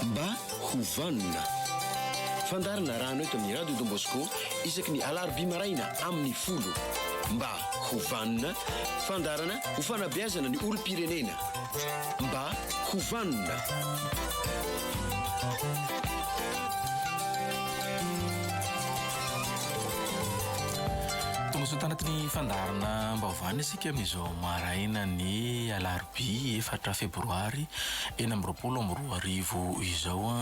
Mba ho vanona. Fandaharana raha anao eto amin'ny Radio Don Bosco isaky ny alarobia maraina amin'ny folo. Mba ho vanona. Fandaharana ho fanabeazana ny olom-pirenena. Mba ho vanona. Tongasoa tanaty ny fandaharanam-baovaony isika amin'izao marainan'ny alarobia efatra febroary enina amby roapolo amby roa arivo izao.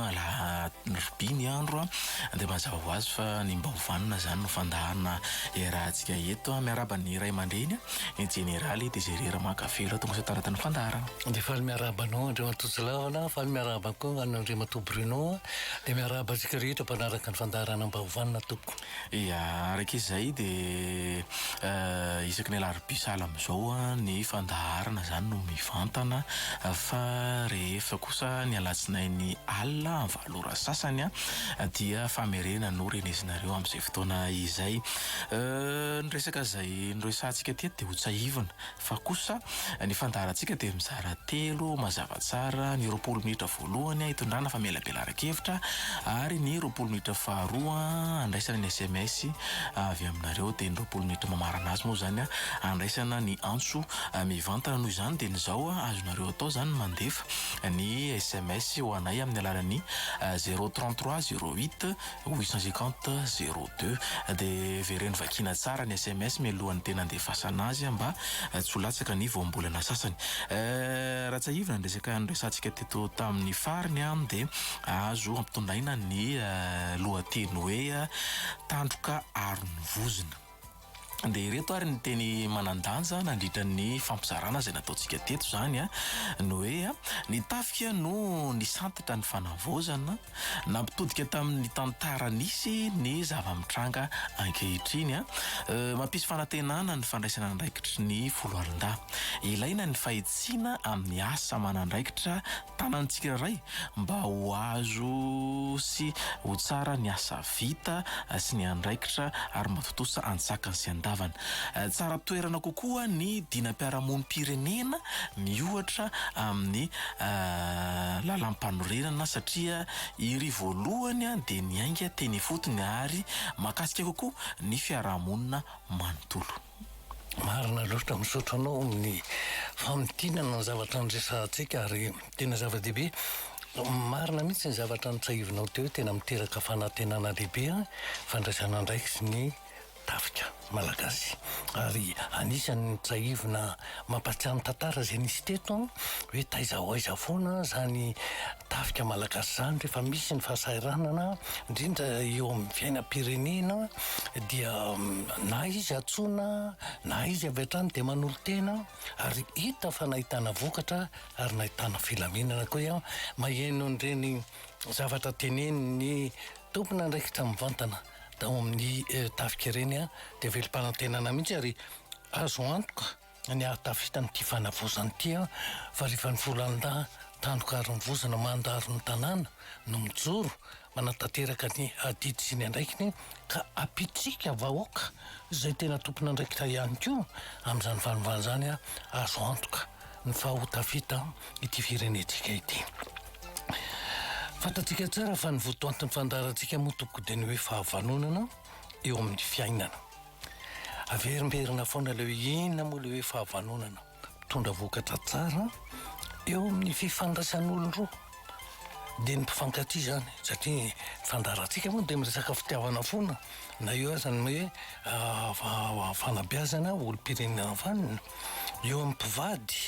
Alarobia ny andro dia mazava ho azy fa ny Mbaovanona izany no fandaharana iarahantsika eto. Miarahaba ny ray aman-dreny, ny jeneraly Desire Ramakavelo. Tongasoa tanaty ny fandaharana. Dia faly miarahaba anao Andriamatoa Tsilavana, faly miarahaba koa an'Andriamatoa Bruno. Dia miarahaba antsika rehetra mpanaraka ny fandaharanam-baovana tompoko. Ia, araka izay dia isaky ny alarobia sahala amin'izao ny fandaharana izany no mivantana fa rehefa kosa ny alatsinainy alina amin'ny valo ora sasany dia famerenana no renesinareo amin'izay fotoana izay. Ny resaka izay noresahantsika teto dia hotsahivina Fa kosa ny fandaharantsika dia mizara telo mazava tsara, ny roapolo minitra voalohany hitondrana famelabelaran-kevitra ary ny roapolo minitra faharoa handraisana ny sms avy aminareo dia ny roapolo minitra mamarana azy moa izany handraisana ny antso mivantana noho izany dia ny izao azonareo atao izany ny mandefa ny sms ho anay amin'ny alalan'ny zero trente trois zero huit huit cent cinquante zéro deux dia vereno vakiana tsara ny sms mialohan'ny tena andefasana azy mba tsy ho latsaka ny voambolana sasany eh, raha tsahivina ny resaka niresahantsika teto tamin'ny fariny an dia azo ampitondraina ny eh, lohateny hoe eh, tandroka aron'ny vozona Dia ireto ary ny teny manan-danja nandritra ny fampizarana izay nataontsika teto izany a, ny hoe a, ny tafika no nisantitra ny fanavaozana, nampitodika tamin'ny tantara nisy ny zava-mitranga ankehitriny a, mampisy fanantenana ny fandraisana andraikitry ny foloalindahy. Ilaina ny fahitsiana amin'ny asa aman'andraikitra Tanantsika iray mba ho azo sy ho tsara ny asa vita sy ny andraikitra ary mba tontosa an-tsakany sy an-davany. Tsara toerana kokoa ny dinam-piarahamonim-pirenena miohatra amin'ny lalàmpanorenana satria iry voalohany dia niainga teny ifotony ary mahakasika kokoa ny fiarahamonina manontolo. Marina loatra, misaotra anao amin'ny famintinana ny zavatra niresahantsika ary tena zava-dehibe. Marina mihitsy ny zavatra nitsahivinao teo, tena miteraka fanantenana lehibe ny fandraisana andraikitry ny tafika malagasy. Ary anisan'ny tsahivina Mampatsiahy ny tantara izay nisy teto an, hoe taiza ho aiza foana izany tafika malagasy izany rehefa misy ny fahasahiranana indrindra eo amin'ny fiainam-pirenena dia na izy antsoina na izy avy hatrany dia manolo-tena ary hita fa nahitana vokatra ary nahitana filaminana koa ianao maheno an'ireny zavatra tenenin'ny tompon'andraikitra mivantana. tao amin'ny tafika ireny dia velom-panantenana mihitsy ary azo antoka ny hahatafita amin'ity fanavaozana ity fa rehefa ny volandahy tandroka ary ny vozona mandaro ny tanàna no mijoro manatanteraka ny adidy sy ny andraikiny ka ampitsika vahoaka izay tena tompon'andraikitra ihany koa amin'izany vanim-banin'izany azo antoka ny fahotafita ity firenentsika ity. Fantatsika tsara fa ny votoantin'ny fandaharantsika moa tompoko dia ny hoe fahavanonana eo amin'ny fiainana. Averimberina foana ilay hoe inona moa ilay hoe fahavanonana. Mitondra vokatra tsara eo amin'ny fifandraisan'olon-droa. Dia ny mpifankatia izany satria fandaharantsika moa dia miresaka fitiavana foana na eo aza ny hoe ah, fanabeazana olom-pirenena vanona. eo amin'ny mpivady,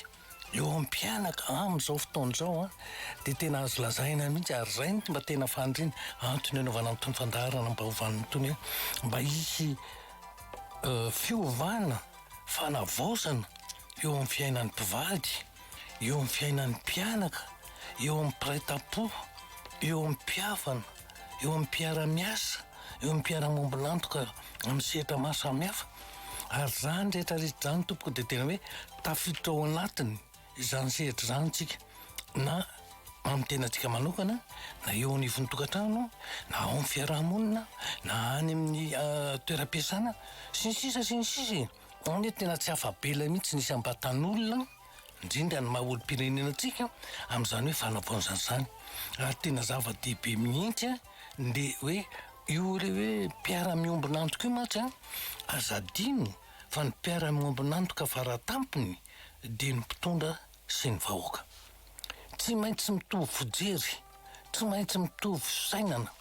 eo amin'ny mpianaka amin'izao fotoana izao dia tena azo lazaina mihitsy ary izay no mba tena faniriana, antony anaovana an'itony fandaharana baovany itony hoe mba hisy fiovana, fanavaozana eo amin'ny fiainan'ny mpivady. eo amin'ny fiainan'ny mpianaka, eo amin'ny mpiray tampo, eo amin'ny mpihavana, eo amin'ny mpiara-miasa, eo amin'ny mpiara-mombolantoka amin'ny sehatra maro samihafa. Ary izany rehetra rehetra izany tompoko dia tena hoe tafiditra ao anatiny izany sehatra izany isika na amin'ny tenantsika manokana na eo anivon'ny tokantrano na ao amin'ny fiaraha-monina na any amin'ny toeram-piasana sy ny sisa sy ny sisa e. Any a tena tsy afa-bela mihitsy ny isam-batan'olona, indrindra ny maha olom-pirenena antsika, amin'izany hoe fanavaozana izany. Ary tena zava-dehibe mihitsy ilay hoe io ilay hoe mpiara-miombon'antoka io mantsy an! Aza adino fa ny mpiara-miombon'antoka fara tampony dia ny mpitondra sy ny vahoaka. Tsy maintsy mitovy fijery, tsy maintsy mitovy fisainana.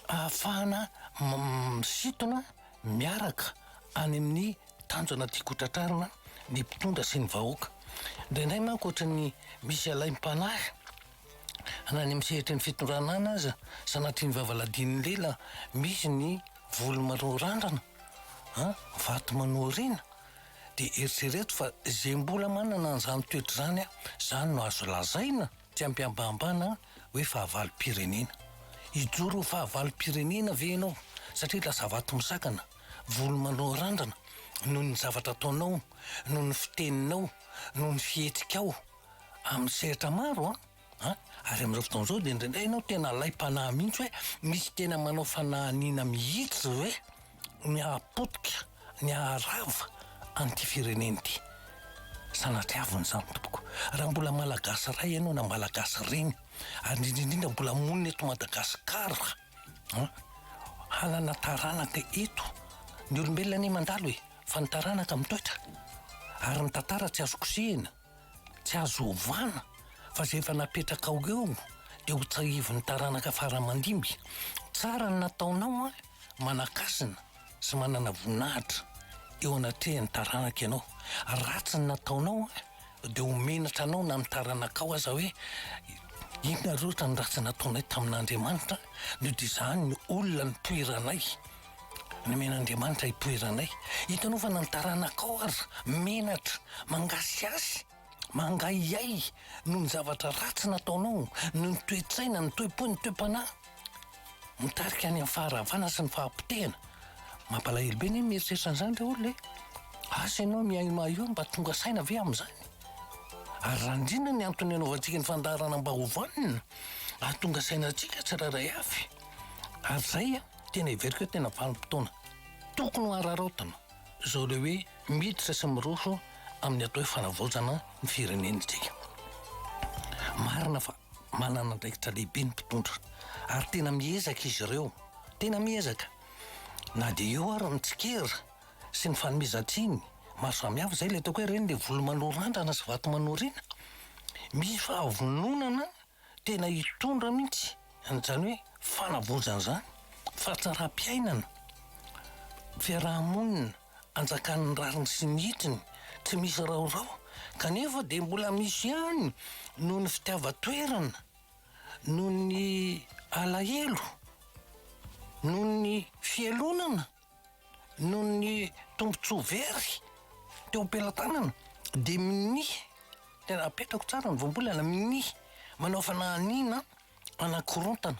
ahafahana misintona miaraka any amin'ny tanjona tiako hotratrarina ny mpitondra sy ny vahoaka. Indraindray manko ohatran'ny misy alaim-panahy na any amin'ny sehatry ny fitondrana any aza sanatria ny vavaladinin'ny lela misy ny volo manorandrana, an, vato manoariana dia eritrereto fa izay mbola manana an'izany toetra izany an, izany no azo lazaina. Tsy ampihambahambana hoe fahavalom-pirenena. Hijoro ho fahavalom-pirenena ve ianao satria lasa vato misakana, volo manorandrana noho ny zavatra ataonao, noho ny fiteninao, noho ny fihetsikao amin'ny sehatra maro an? an? Ary amin'izao fotoana izao dia indraindray ianao tena alaim-panahy mihitsy hoe misy tena manao fanahiniana mihitsy ve? ny hahapotika, ny haharava an'ity firenena ity. Sanatria avy ny izany tompoko. Raha mbola Malagasy iray ianao na Malagasy reny, ary indrindra indrindra mbola monina eto Madagasikara, an, hanana taranaka eto. Ny olombelona anie mandalo e, fa ny taranaka mitoetra. Ary ny tantara tsy azo kosehina. Tsy azo ovana fa zay efa napetrakao eo dia ho tsahiviny taranaka fara mandimby. Tsara ny nataonao an, manakasina sy manana voninahitra eo anatrehan'ny taranaka ianao. Ratsy ny nataonao an dia ho menatra anao na ny taranakao aza hoe inona ary ohatra ny ratsy nataonay tamin'Andriamanitra no dia izany no olona nitoeranay. Nomen'Andriamanitra hitoeranay. Hitanaovana ny taranakao ary menatra mangasiasy, mangahiahy noho ny zavatra ratsy nataonao, noho ny toe-tsaina, ny toe-po, ny toe-panahy mitarika any amin'ny faharavana sy ny fahapotehana. Mampalahelo be anie ny mieritreritra an'izany ry olona e! Asa ianao mihaino mahaio mba tonga saina ve amin'izany? Ary raha indrindra ny antony anaovantsika ny fandaharana mba ho vonona hahatonga saina antsika tsirairay avy. Ary izay an! Tena heveriko hoe tena vanim-potoana tokony ho araraotina izao ilay hoe miditra sy miroso amin'ny atao hoe fanavaozana ny firenena isika. Marina fa manana andraikitra lehibe ny mpitondra ary tena miezaka izy ireo, tena miezaka. Na dia eo ary ny tsikera sy ny fanomezan-tsiny maro samihafa, izay ilay ataoko hoe ireny ilay volo manoa randrana sy vato manoa orina. Misy fahavononana tena hitondra mihitsy an'izany hoe fanavaozana izany, fahatsaram-piainana, fiaraha-monina anjakan'ny rariny sy ny hitriny, tsy misy raorao, kanefa dia mbola misy ihany noho ny fitiavan-toerana, noho ny alahelo, noho ny fialonana. Noho ny tombontsoa very teo am-pelatanana dia minia, tena apetrako tsara ny voambolana, minia manao fanahiniana hanakorontana,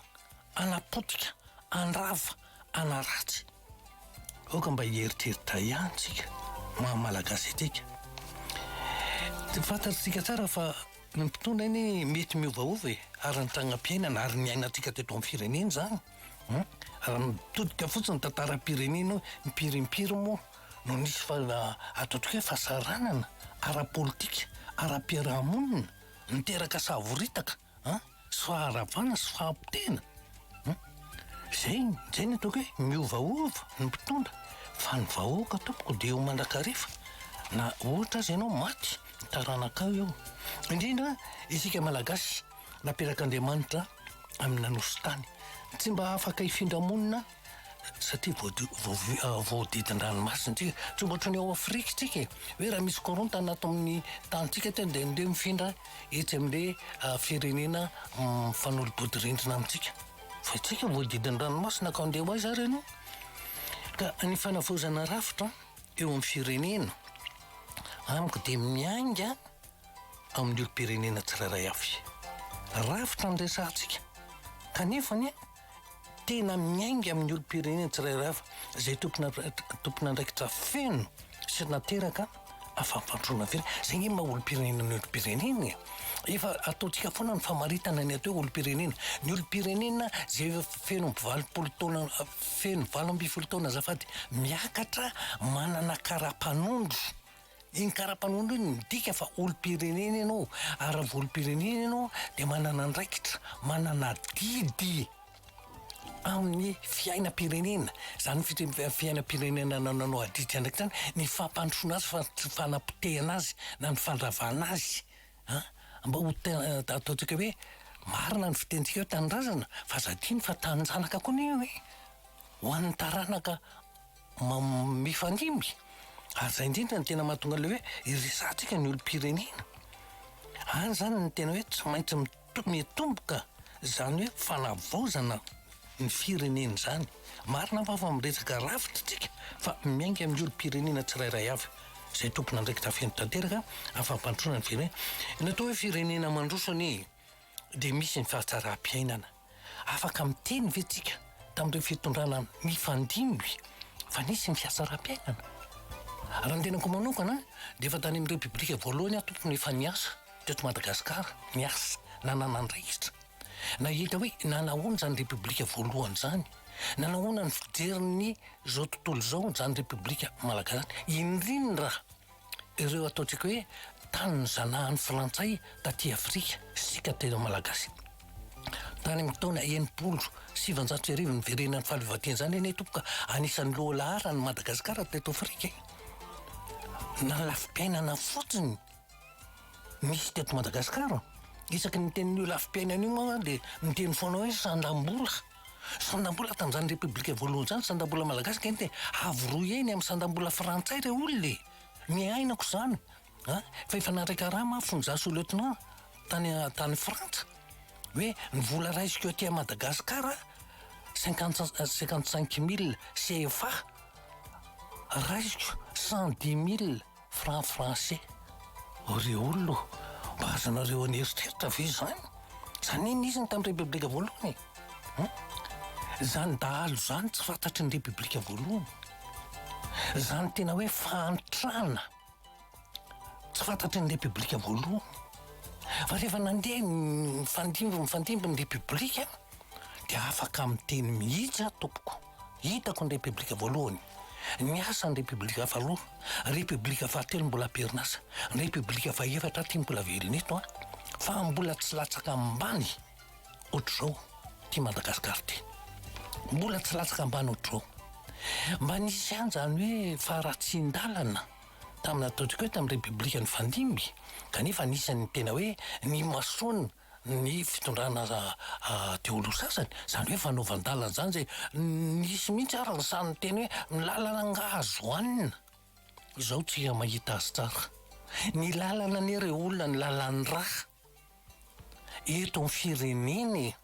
hanapotika, handrava, hanaratsy. Aoka mba hieritreritra ihany isika maha Malagasy antsika. Fantatsika tsara fa ny mpitondra anie mety miovaova e, ary ny tragnam-piainana ary ny iainantsika teto amin'ny firenena izany. Hum? Raha mitodika fotsiny ny tantaram-pirenena hoe impiry impiry moa no nisy fa ataontsika hoe fahasaranana ara-politika, ara-piarahamonina niteraka savoritaka an! sy faharavana sy fahapotehana an! Izay, izay no ataoko hoe miovaova ny mpitondra fa ny vahoaka tompoko dia eo mandrakariva na ohatra aza ianao maty ny taranakao eo. Indrindra isika Malagasy. naperak'Andriamanitra amina nositany tsy mba afaka hifindra monina satria voadidin-dranomasina tsika tsy ohatry ny ao Afrika tsika e hoe raha misy korontana ato amin'ny tantsika teo dia ndeha mifindra etsy amle ah, firenena mm, mifanolo-bodirindrina amintsika fa itsika voadidin-dranomasina ka ndeha ho aiza ary ianao ka ny fanavaozana rafitra eo amin'ny firenena amiko dia miainga amin'ny olom-pirenena tsirairay avy. Rafitra ny resahantsika, kanefa anie tena miainga amin'ny olom-pirenena tsirairay avy izay tompon'andraikitra feno sy nateraka fa fampandroana very. Izay ny maha olom-pirenena ny olom-pirenena e! Efa ataontsika foana ny famaritana ny atao hoe olom-pirenena. Ny olom-pirenena izay efa feno amby valopolo taona, feno valo ambin'ny folo taona azafady miakatra, manana kara-panondro. Iny kara-panondro iny midika fa olom-pirenena ianao, ary raha olom-pirenena ianao dia manana andraikitra, manana adidy amin'ny fiainam-pirenena. Izany ny fiainam-pirenena nananao adidy sy andraikitra izany, ny fampandrosoana azy, ny fanapotehana azy na ny fandravana azy. Mba ho ataontsika hoe marina ny fitenintsika hoe tanindrazana fa aza adino fa taninjanaka koa anie io e! Ho an'ny taranaka. mifanimby ary zay indrindra ny tena mahatonga le hoe iresahantsika ny olom-pirenena any zany ny tena hoe tsy maintsy mitomboka zany hoe fanavaozana ny firenena zany marina aho fa miresaka rafitra tsika fa miainga amin'ny olom-pirenena tsirairay avy zay tompona andraikitra feno tanteraka afa-pandroana ny firenena ny atao hoe firenena mandroso anie dia misy ny fahatsara-piainana Afaka miteny ve tsika tamin'ireo fitondrana mifandimby fa nisy ny fiasaram-piainana? Raha ny tenako manokana dia efa tany amin'ny repoblika voalohany aho tompony efa niasa teto Madagasikara, niasa, nanana andraikitra. Nahita hoe nanahoana izany repoblika voalohany izany, nanahoana ny fijerin'ny izao tontolo izao izany repoblika malagasy izany, indrindra. ireo ataontsika hoe tanin'ny zanahan'ny frantsay taty Afrika isika teo Malagasy. Tany amin'ny taona enimpolo sy sivanjato sy arivo niverenan'ny fahaleovantena izany anie tompoka anisan'ny loha laharany Madagasikara teto Afrika. Na lafi-piainana fotsiny misy teto Madagasikara isaky ny miteny an'io lafi-piainana io moa dia miteny foana hoe sandam-bola. Sandam-bola tamin'izany Repoblika voalohany izany sandam-bola malagasy kay dia avo roa heny amin'ny sandam-bola frantsay ireo olona e! Niainako izany a! Fa efa nandray karama aho fonja sous lieutenant tany tany Frantsa hoe ny vola raisiko aty Madagascar cinquante cinquante cinq mille CFA raisiko cent dix mille Franc français ô ry olona ô! Mba azonareo an'eritreritra ve izany? Izany anie nisy ny tamin'ny Repoblika voalohany e! Hum! Izany dahalo izany tsy fantatry ny Repoblika voalohany. Izany tena hoe fahantrana tsy fantatry ny Repoblika voalohany. Fa rehefa nandeha nifandimby nifandimby ny Repoblika dia afaka miteny mihitsy aho tompoko. Hitako ny Repiblika voalohany, ny asan'ny Repiblika faharoa, Repiblika fahatelo mbola am-perinasa, ny Repiblika fahefatra ity mbola velona eto an! fa mbola tsy latsaka ambany ohatr'izao ity Madagasikara ity. Mbola tsy latsaka ambany ohatr'izao. Mba nisy ihany izany hoe faharatsian-dalana tamin'ny nataontsika hoe tamin'ny Repiblika nifandimby, kanefa anisan'ny tena hoe nimasoana ny fitondrana Daholo sasany, izany hoe fanaovan-dalana izany izay nisy mihitsy ary ny sahy niteny hoe ny lalana angaha azo hanina? Izaho tsy mahita azy tsara. Ny lalana anie re olona ny lalan'ny rà eto amin'ny firenena e!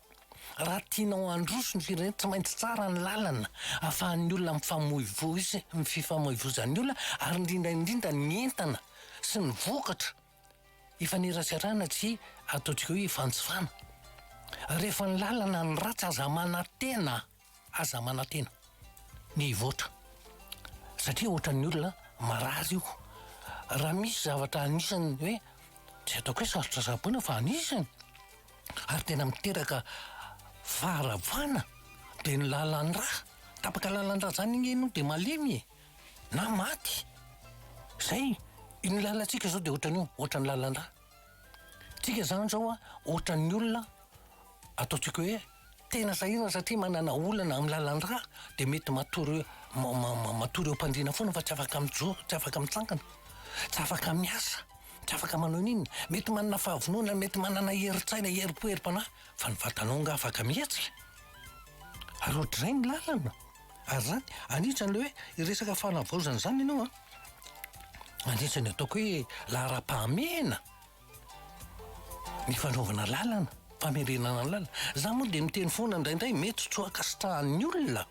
Raha tianao handroso ny firenena tsy maintsy tsara ny lalana ahafahan'ny olona mifamoivoy sy ny fifamoivozan'ny olona ary indrindra indrindra ny entana sy ny vokatra. ifaneraserana tsy ataontsika hoe ifanjifana. Rehefa ny lalana no ratsy aza manantena, aza manantena ny hivoatra satria ohatran'ny olona marary io. Raha misy zavatra anisany hoe tsy ataoko hoe sarotra tsaboina fa anisany ary tena miteraka faharavana dia ny lalan-drà. Tapaka lalan-drà zany anie ianao dia malemy e! na maty. Zay, iny lalantsika zao de ohatran'io, ohatran'ny lalan-dra. Tsika zany zao a, ohatran'ny olona ataontsika hoe tena sahirana satria manana olana amin'ny lalan-dra de mety matory matory eo am-pandriana foana fa tsy afaka mijoro, tsy afaka mitsangana, tsy afaka miasa, tsy afaka manao n'inona. Mety manana fahavonona, mety manana herin-tsaina, herim-po, herim-panahy fa ny vatanao nga afaka mihetsika? Ary ohatrizay ny lalana. ary zany an'itsy anle hoe hiresaka fanavaozana zany enao an, mandritra ny ataoko hoe laharam-pahamehana ny fanaovana lalana, famerenana lalana, za moa de miteny foana ndraindray mety tsy ho ankasitrahan'ny olona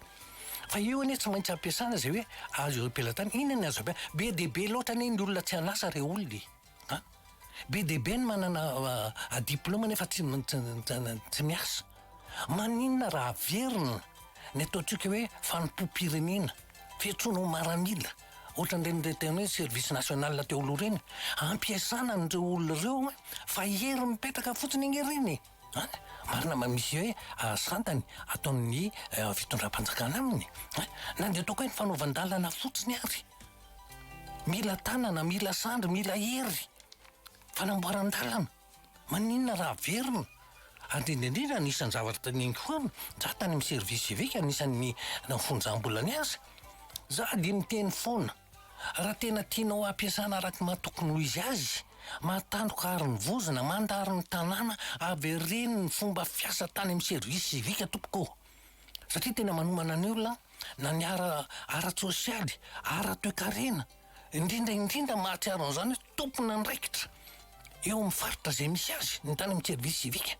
fa eo anie tsy maintsy ampiasana zay hoe azo ampelatany, ina ny azo ampiasana, be dia be loatra anie ny olona tsy an'asa re olona e! An! Be dia be ny manana diplaoma nefa tsy miasa. Maninona raha averina ny ataontsika hoe fanompoam-pirenena, fiantsoana ho maramila, ohatran'ireny tena hoe service national teo aloha ireny, ampiasana an'ireo olona ireo fa hery mipetraka fotsiny anie ireny e! An! Marina ma misy hoe santany ataon'ny fitondram-panjakana aminy an! Na dia ataoko hoe ny fanaovan-dalana fotsiny ary mila tanana, mila sandry, mila hery fanamboaran-dalana. Maninona raha averina? Ary indrindra indrindra anisan'ny zavatra teneniko foana za tany amin'ny service civique anisan'ny nafonjam-bola niasa za dia miteny foana. Raha tena tianao hampiasana araka ny maha tokony ho izy azy, mahatandroka àry ny vozona, mandary ny tanàna, avereno ny fomba fiasa tany amin'ny service civique tompoko ô! Satria tena manomana ny olona na ny ara-tsosialy, ara-toekarena, indrindra indrindra mahatsiaro an'izany hoe, tompon'andraikitra eo amin'ny faritra izay misy azy ny tany amin'ny service civique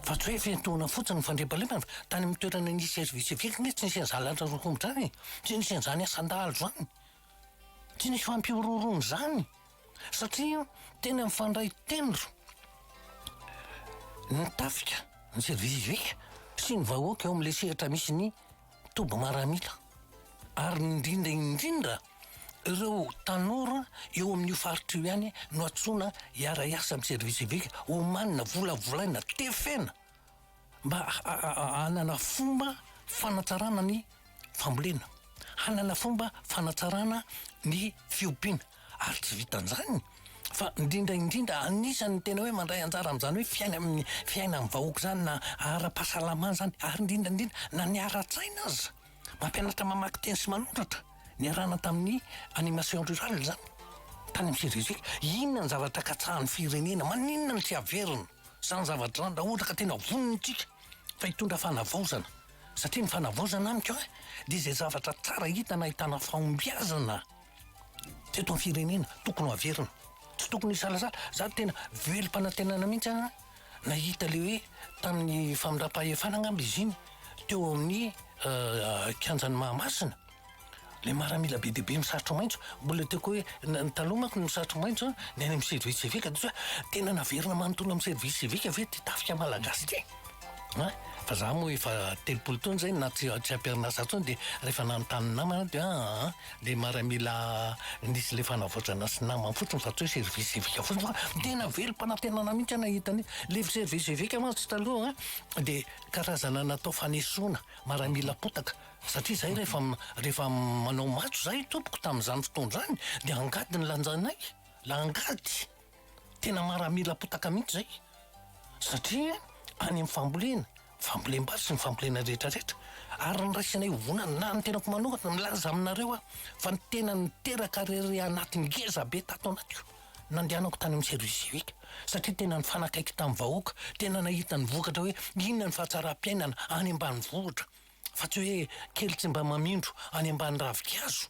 fa tsy hoe fiantohana fotsiny ny fandriampahalemana fa tany amin'ny toerana nisy service civique anie tsy nisy an'izany lanitra rokombotra izany e tsy nisy an'izany asan-dahalo izany tsy nisy fampihorohoroana izany satria tena mifandray tendro ny tafika ny service civique sy ny vahoaka eo amin'ilay sehatra misy ny toby maramila ary indrindra indrindra ireo tanora eo amin'io faritra io ihany no antsoina hiara-hiasa amin'ny service civique, omanina, volavolaina, tefena mba hanana fomba fanatsarana ny fambolena, hanana fomba fanatsarana ny fiompiana. Ary tsy vitan'izany fa indrindra indrindra anisan'ny tena hoe mandray anjara amin'izany hoe fiaina amin'ny fiainan'ny vahoaka izany na ara-pahasalamana izany ary indrindra indrindra na ny ara-tsaina aza. Mampianatra mamaky teny sy manoratra. Niarahana tamin'ny animation rurale izany tany amin'ny Cerizil. Inona ny zavatra katsahan'ny firenena? Maninona no tsy averina? Izany zavatra izany raha ohatra ka tena vonona isika fa hitondra fanavaozana. Satria ny fanavaozana amiko dia izay zavatra tsara hita na ahitana fahombiazana. Teto amin'ny firenena tokony ho averina. Tsy tokony hisalasala. Za tena velom-panantenana mihitsy an, nahita le hoe tamin'ny famindram-pahefana angamba izy iny teo amin'ny kianjan'i Mahamasina, le maramila be dia be misarotro maitso. Mbola tiako hoe ny taloha manko ny misarotro maitso an, ny any amin'ny service civique dia hoe tena naverina manontolo amin'ny service civique ve ty tafika malagasy ty? An! Fa za moa efa telopolo taona zay na tsy tsy am-perinasa intsony dia rehefa nanontany ny namana dia aa. le maramila nisy le fanavaozana sy namany fotsiny fa tsy hoe service civique fotsiny fa tena velom-panantenana mihitsy aho nahita an'io. Le service civique mantsy taloha an, dia karazana natao fanesoana maramila potaka satria zay rehefa rehefa manao matso zay tompoko tamin'izany fotoana izany dia angady no lanjanay, la angady. Tena maramila potaka mihitsy zay satria any am fambolena, fambolem-bary sy ny fambolena rehetra rehetra ary ny raisinay ivonany na ny tenako manokana milaza aminareo aho fa ny tena niteraka rere anaty ngeza be tato anatiko nandehanako tany am service civique satria tena nifanakaiky tam vahoaka tena nahita ny vokatra hoe inona ny fahatsaram-piainana any ambanivohitra fa tsy hoe kely tsy mba mamindro any ambany ravin-kazo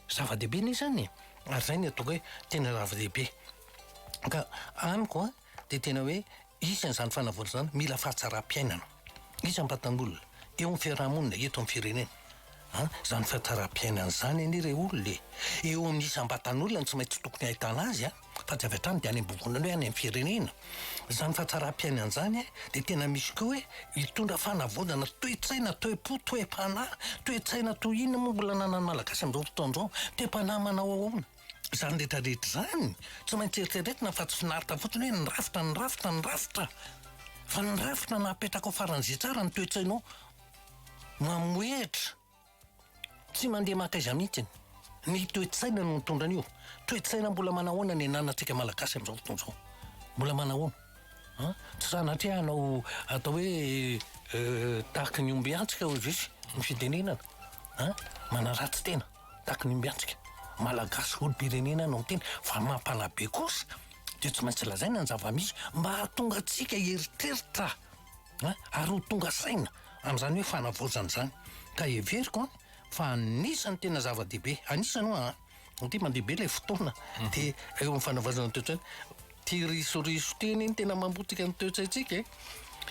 Zava-dehibe ne izany e! ary izay no ataoko hoe tena lava-dehibe. Ka amiko an, dia tena hoe isan'izany fanavaozana izany mila fahatsaram-piainana. Iza mba tanora eo amin'ny fiarahamonina eto amin'ny firenena? an, izany fahatsaram-piainana izany anie re olona e! eo amin'ny isam-batan'olona no tsy maintsy tokony ahitana azy an! fa tsy avy hatrany dia any am-bovonana hoe any amin'ny firenena. Izany fahatsaram-piainana izany dia tena misy koa hoe hitondra fanavonana toe-tsaina, toe-po, toe-panahy, toe-tsaina toy inona moa mbola ananan'ny Malagasy amin'izao fotoana izao? Toe-panahy manao ahoana? Izany rehetra rehetra izany tsy maintsy eritreretina fa tsy finaritra fotsiny hoe ny rafitra, ny rafitra, ny rafitra fa ny rafitra napetraka ho faran'izay tsara ny toe-tsainao mamohehitra. Tsy mandeha maka aiza mihitsy. Ny toe-tsaina no mitondra an'io. Toe-tsaina mbola manahoana ny ananantsika Malagasy amin'izao fotoana izao? Mbola manahoana? An? Tsy sanatria hanao atao hoe tahaky ny ombiantsika hoy Jiosy ny fitenenana. An? Manaratsy tena tahaky ny ombiantsika. Malagasy olom-pirenena no miteny fa mampalabe kosa dia tsy maintsy lazaina ny zava-misy mba hahatonga antsika hieritreritra an, ary ho tonga saina amin'izany hoe fanavaozana izany, ka heveriko an, fa anisan'ny tena zava-dehibe, anisany hoa an, satria mandeha be ilay fotoana, dia eo amin'ny fanavaozana ny toe-tsaina, ity risoriso ity anie no tena mamotika ny toe-tsaintsika e,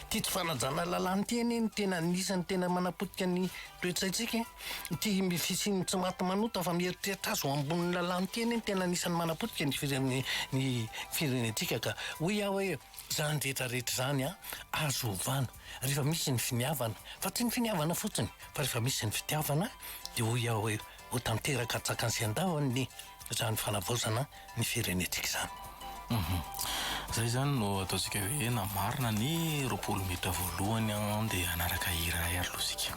ity tsy fanajana lalàna ity anie no tena anisan'ny tena manapotika ny toe-tsaintsika e, ity fisian'ny tsy maty manota fa mieritreritra azy ho ambonin'ny lalàna ity anie no tena anisan'ny manapotika ny ny firenentsika ka, hoy aho hoe. Izany rehetra rehetra izany an, azo ovana rehefa misy ny finiavana, fa tsy ny finiavana fotsiny fa rehefa misy ny fitiavana dia hoy aho hoe ho tanteraka an-tsakany sy an-davany izany fanavaozana ny firenentsika izany. Hum. Izay izany no ataontsika hoe namarina ny roapolo minitra voalohany an dia hanaraka hira iray ary loha isika.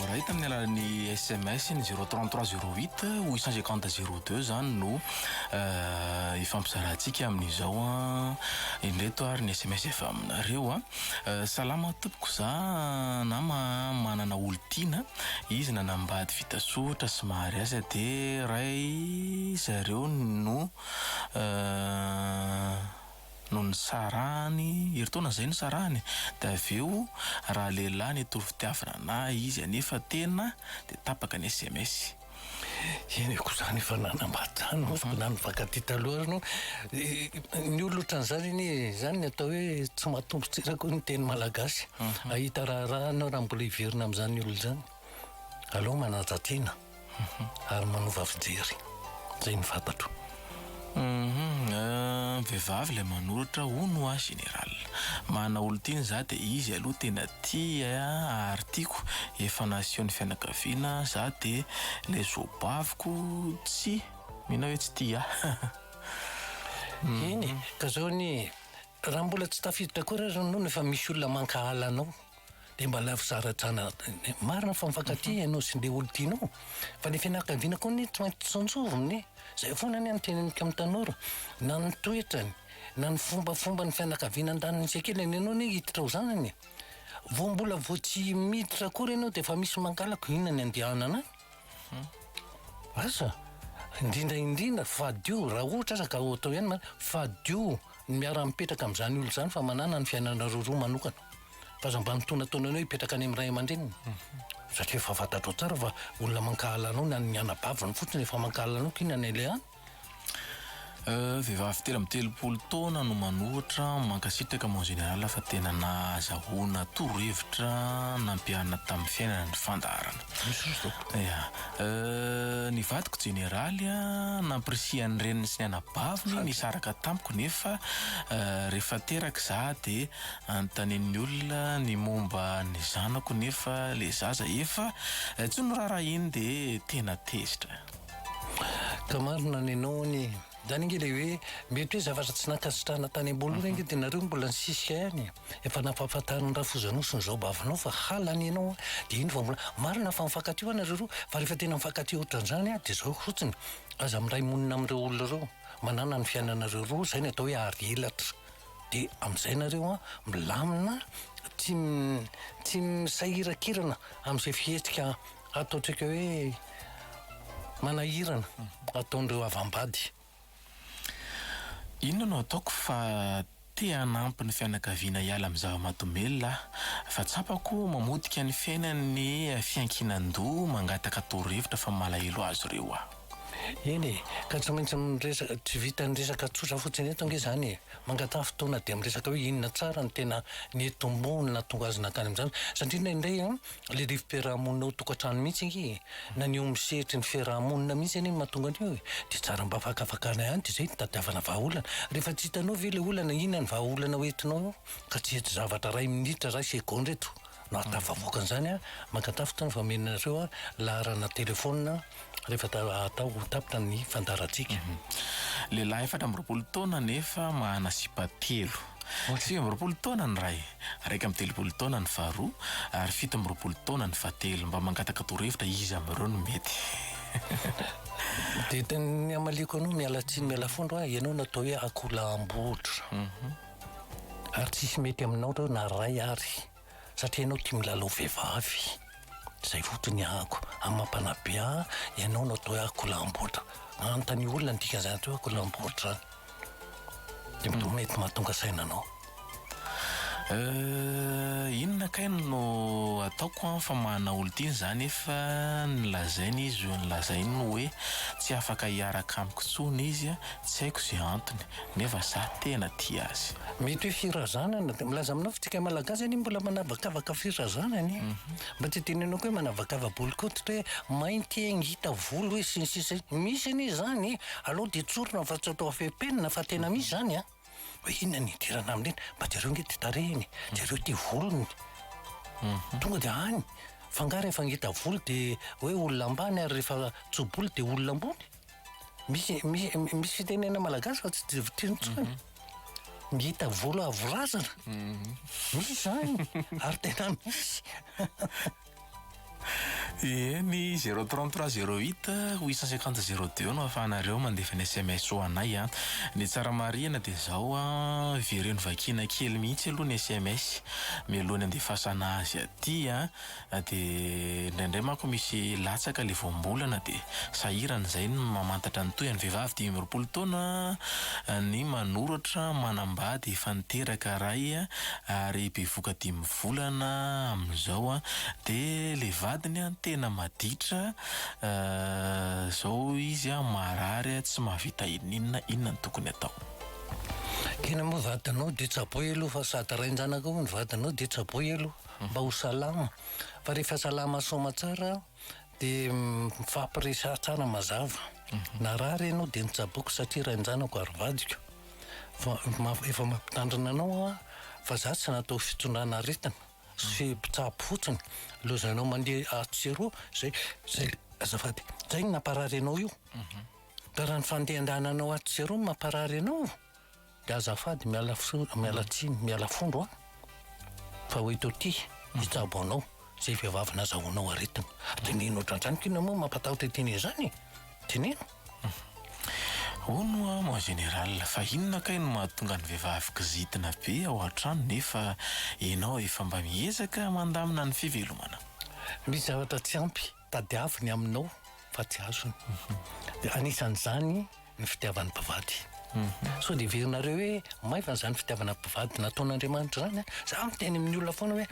Iray tamin'ny alalan'ny sms ny zero trente trois zero huit ou cent cinquante zero deux zany no ifampizarantsika amin'izao an. Indreto ary ny sms avy aminareo an. Salama tompoko za nama manana olon-tiana izy nanambady vita soritra sy mariazy de ray zareo no no nisarahany, herintaona izay nisarahany, dia avy eo raha lehilahy nitory fitiavana ana izy anefa tena dia tapaka ny sms. Eny e, koa izany efa nanambady izany na nifankatia taloha aza no ny olona ohatran'izany anie e, izany ny atao hoe tsy mahatombo tsara koa ny teny malagasy, hahita raharaha ianao raha mbola hiverina amin'izany olona izany, aleo manaja tena. ary manova fijery zay ny fantatro uhmm vehivavy ilay manoratra hono hoa général mana olon-tiany za de izy aloha tena tia ary tiako efa nasehon'ny fianakaviana za de ilay zoabaviko tsy mino aho hoe tsy tia ahy eny ka zao anie raha mbola tsy tafiditra akory ary hono efa misy olona mankahala anao Dia mba alaivo zara trana marina fa mifankatia ianao sy le olo tianao fa le fianakaviana koa anie tsy maintsy tsinjovina anie zay foana anie ny tena mika mitanora na ny toetrany na ny fombafomba ny fianakaviana andaniny tsy akela ny anao anie hiditra ao zanany vo mbola vo tsy miditra akory ianao dia efa misy mangalako inona ny andihanana any hmm. asa indrindra indrindra fadio raha ohatra aza ka atao ihany fadio ny miara mipetraka amin'izany olo izany fa manana ny fiainanareo roa manokana Aza mba antonantonany hoe hipetraka any amin'ny ray aman-dreniny satria efa fantatrao tsara fa olona mankahala anao na ny anabaviny fotsiny efa mankahala anao k'inona ny aleha any. Vehivavy telo amby telopolo taona no manohitra, mankasitraka mon général fa tena nahazahoana torohevitra nampiharina tamin'ny fiainana ny fandaharana. Jesosy tompoko. Ya. Ny vadiko jeneraly a, nampirisihan'ny reniny sy ny anabaviny nisaraka tamiko nefa rehefa teraka izaho dia. Anontanian'ny olona ny momba ny zanako nefa le zaza efa tsy miraharaha iny de tena tezitra. Ka marina ny anao anie. Zany ange le hoe mety hoe zavatra tsy nankasitrahana tany amboalohany ange de nareo mbola nisisika ihany e. Efa nampahafantarin'i Rafozanosy ny zaobavonao fa halany ianao de iny vao mbola, marina fa mifankatia hoa nareo roa fa rehefa tena mifankatia ohatran'izany de zao fotsiny, aza miray monina amin'ireo olona ireo, manana ny fiainanareo roa, zay ny atao hoe ary elatra. De amzay nareo an milamina tsy tsy misahirakirana amzay fihetsika ataotrika hoe manahirana ataondreo avambady. Inona no ataoko fa te hanampy ny fianakaviana hiala amin'ny zava-mahadomelina aho fa tsapako mamotika ny fiainany ny fiankinan-doha mangataka torohevitra fa malahelo azy ireo aho. Eny e, ka tsy maintsy miresaka, tsy vitan'ny resaka tsotra fotsiny eto ange izany e, mangataha fotoana dia miresaka hoe inona tsara no tena nitomboany nahatonga azy nankany amin'izany, satria indraindray an, ilay rivo-piarahamonina ao tokantrano mihitsy ange e, na ny eo amin'ny sehatry ny fiarahamonina mihitsy anie no mahatonga an'io e, dia tsara mba fakafakana ihany dia izay no itadiavana vahaolana, rehefa tsy hitanao ve ilay olana, inona no vahaolana hoentinao eo, ka tsy hety zavatra iray minitra, iray segondra eto. Na tafavoaka an'izany aho, mankatafita ny fameno anareo laharana telefaonina rehefa atao ho tapitra ny fandaharantsika. Lehilahy efatra amby roapolo taona nefa mahana sipa telo. Sivy amby roapolo taona ny iray, iraika amby telopolo taona ny faharoa ary fito amby roapolo taona ny fahatelo. Mba mangataka torohevitra iza amin'ireo no mety? Dia ny hamaliako anao, miala tsiny miala fondro aho, ianao no atao hoe akoho laham-botry. Ary tsisy mety aminao reo na ray ary satria ianao tia milalao vehivavy zay fotony ahako amapana be ah ianao no atao hoe akolamboatra anontanio olona ny dikan'izany atao hoe akolamboatra zany de mety mahatonga saina anao Euh, inona kay no ataoko an fa mahana olon-tiany za nefa nolazainy izy nolazainy hoe tsy afaka hiaraka amiko intsony izy an, tsy haiko ze antony. Nefa za tena tia azy. Mety hoe firazanana de milaza aminao fa tsika malagasy anie mbola manavakavaka firazanana e! Mba tsy tenenako hoe manavakava bolokoditra hoe mainty e ngita volo hoe sy ny sisa e! Misy anie izany e! Aleo dia tsorina fa tsy atao affaire penina fa tena misy izany a! Hoe inona ny idirana amin'iny? Mba jereo nge ity tarehiny, jereo ity volony. Tonga dia any fa nga rehefa ngita volo dia hoe olona ambany ary rehefa tso-bolo dia olona ambony? Misy misy fitenena malagasy fa tsy divitrino intsony. Ngita mhm. volo avo razana. Mhm. Misy zany ary tena misy. Ie ny 033 08 850 02 no afahanareo mandefa ny SMS ho anay a. Ah. Ny tsara marihana dia zao a, ah, vereno vakiana kely mihitsy aloha ny SMS mialoha ny andefasana azy aty a. Ah. Na dia indraindray manko misy latsaka ilay voambolana dia sahirana izay ny mamantatra ny tohiny. Vehivavy dimy amby roapolo taona ny manoratra manambady efa niteraka iray ary bevoka dimy volana amin'izao dia ilay vadiny tena maditra izao izy marary tsy mahavita ininona inona no tokony atao. Tena moa vadinao dia tsaboy aloha fa sady rain-janakao ny vadinao dia tsaboy aloha. mba ho salama fa rehefa salama soma tsara de mifampiresaha tsara mazava na ra re anao de nitsaboko satria rainjanako ary vadiko fa efa mampitandrina anao aho fa za tsy natao fitondrana aretina sy mpitsabo fotsiny lozanao mandeha atsy sy eroa zay zay azafady zay no namparary anao io ka raha ny fandehandehananao atsy sy eroa no mamparary anao Dia azafady miala fsony miala tsiny miala fondro an! fa hoe to ty hitsabo anao zay vehivavy nazahoanao aretina de nino otrantran ko inona moa mampatahotra ity neny zany e! de nino Hono hoa mon général fa inona kay no mahatonga ny vehivavy kizitina be ao an-trano nefa ianao efa mba miezaka mandamina ny fivelomana? Misy zavatra tsy ampy. Tadiavo ny aminao fa tsy azony. Dia anisan'izany ny fitiavan'ny mpivady. Sao dia heverinareo hoe maivana izany fitiavana mpivady nataon'Andriamanitra izany an? Izaho miteny amin'ny olona foana hoe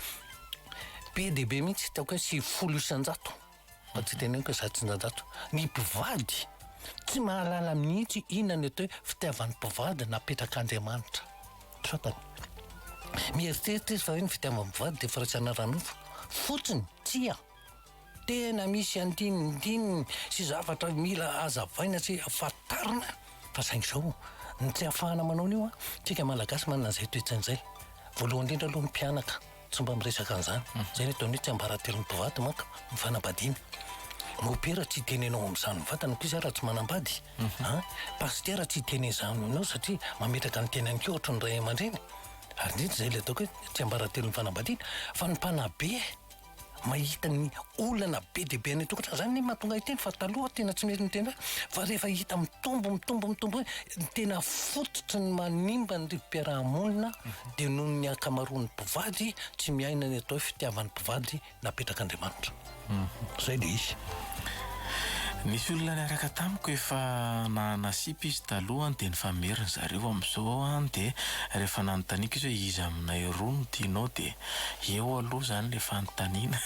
be dia be mihitsy ataoko hoe sivifolo isan-jato fa tsy teneniko hoe zato isan-jato ny mpivady tsy mahalala mihitsy inona ny atao hoe fitiavan'ny mpivady napetrak'Andriamanitra trapany. Mieritreritra izy fa hoe ny fitiavan'ny mpivady dia firaisana ara-nofo fotsiny. Tsia. Tena misy andinindininy sy zavatra mila azavaina sy fantarina fa saingy izao ny tsy ahafahana manao an'io an, tsika malagasy manana an'izay toetsaina izay. Voalohany indrindra aloha ny mpianaka tsy mba miresaka an'izany, izay ny ataony hoe tsiambaratelon'ny mpivady manko ny fanambadiana. Mopera tsy hitenenao amin'izany ny vatana akory za raha tsy manambady an, pasitera tsy hiteny an'izany aminao satria mametraka ny tenany koa ohatry ny ray aman-dreny, ary indrindra izay ilay ataoko hoe tsiambaratelon'ny fanambadiana, fa ny mpanabe. mahita ny olana be dia be any an-tokantrano. Izany ny mahatonga ahy hiteny fa taloha tena tsy mety niteny izany. Fa rehefa hita mitombo, mitombo, mitombo hoe ny tena fototry ny manimba ny rivo-piaraha-monina dia noho ny ankamaroan'ny mpivady tsy miaina ny atao hoe fitiavan'ny mpivady napetrak'Andriamanitra. Izay ilay izy. Nisy olona niaraka tamiko efa nahana sipa izy taloha dia nifamery ny zareo. Amin'izao aho dia rehefa nanontaniako izy hoe iza aminay roa no tianao dia Eo aloha zany le fanontaniana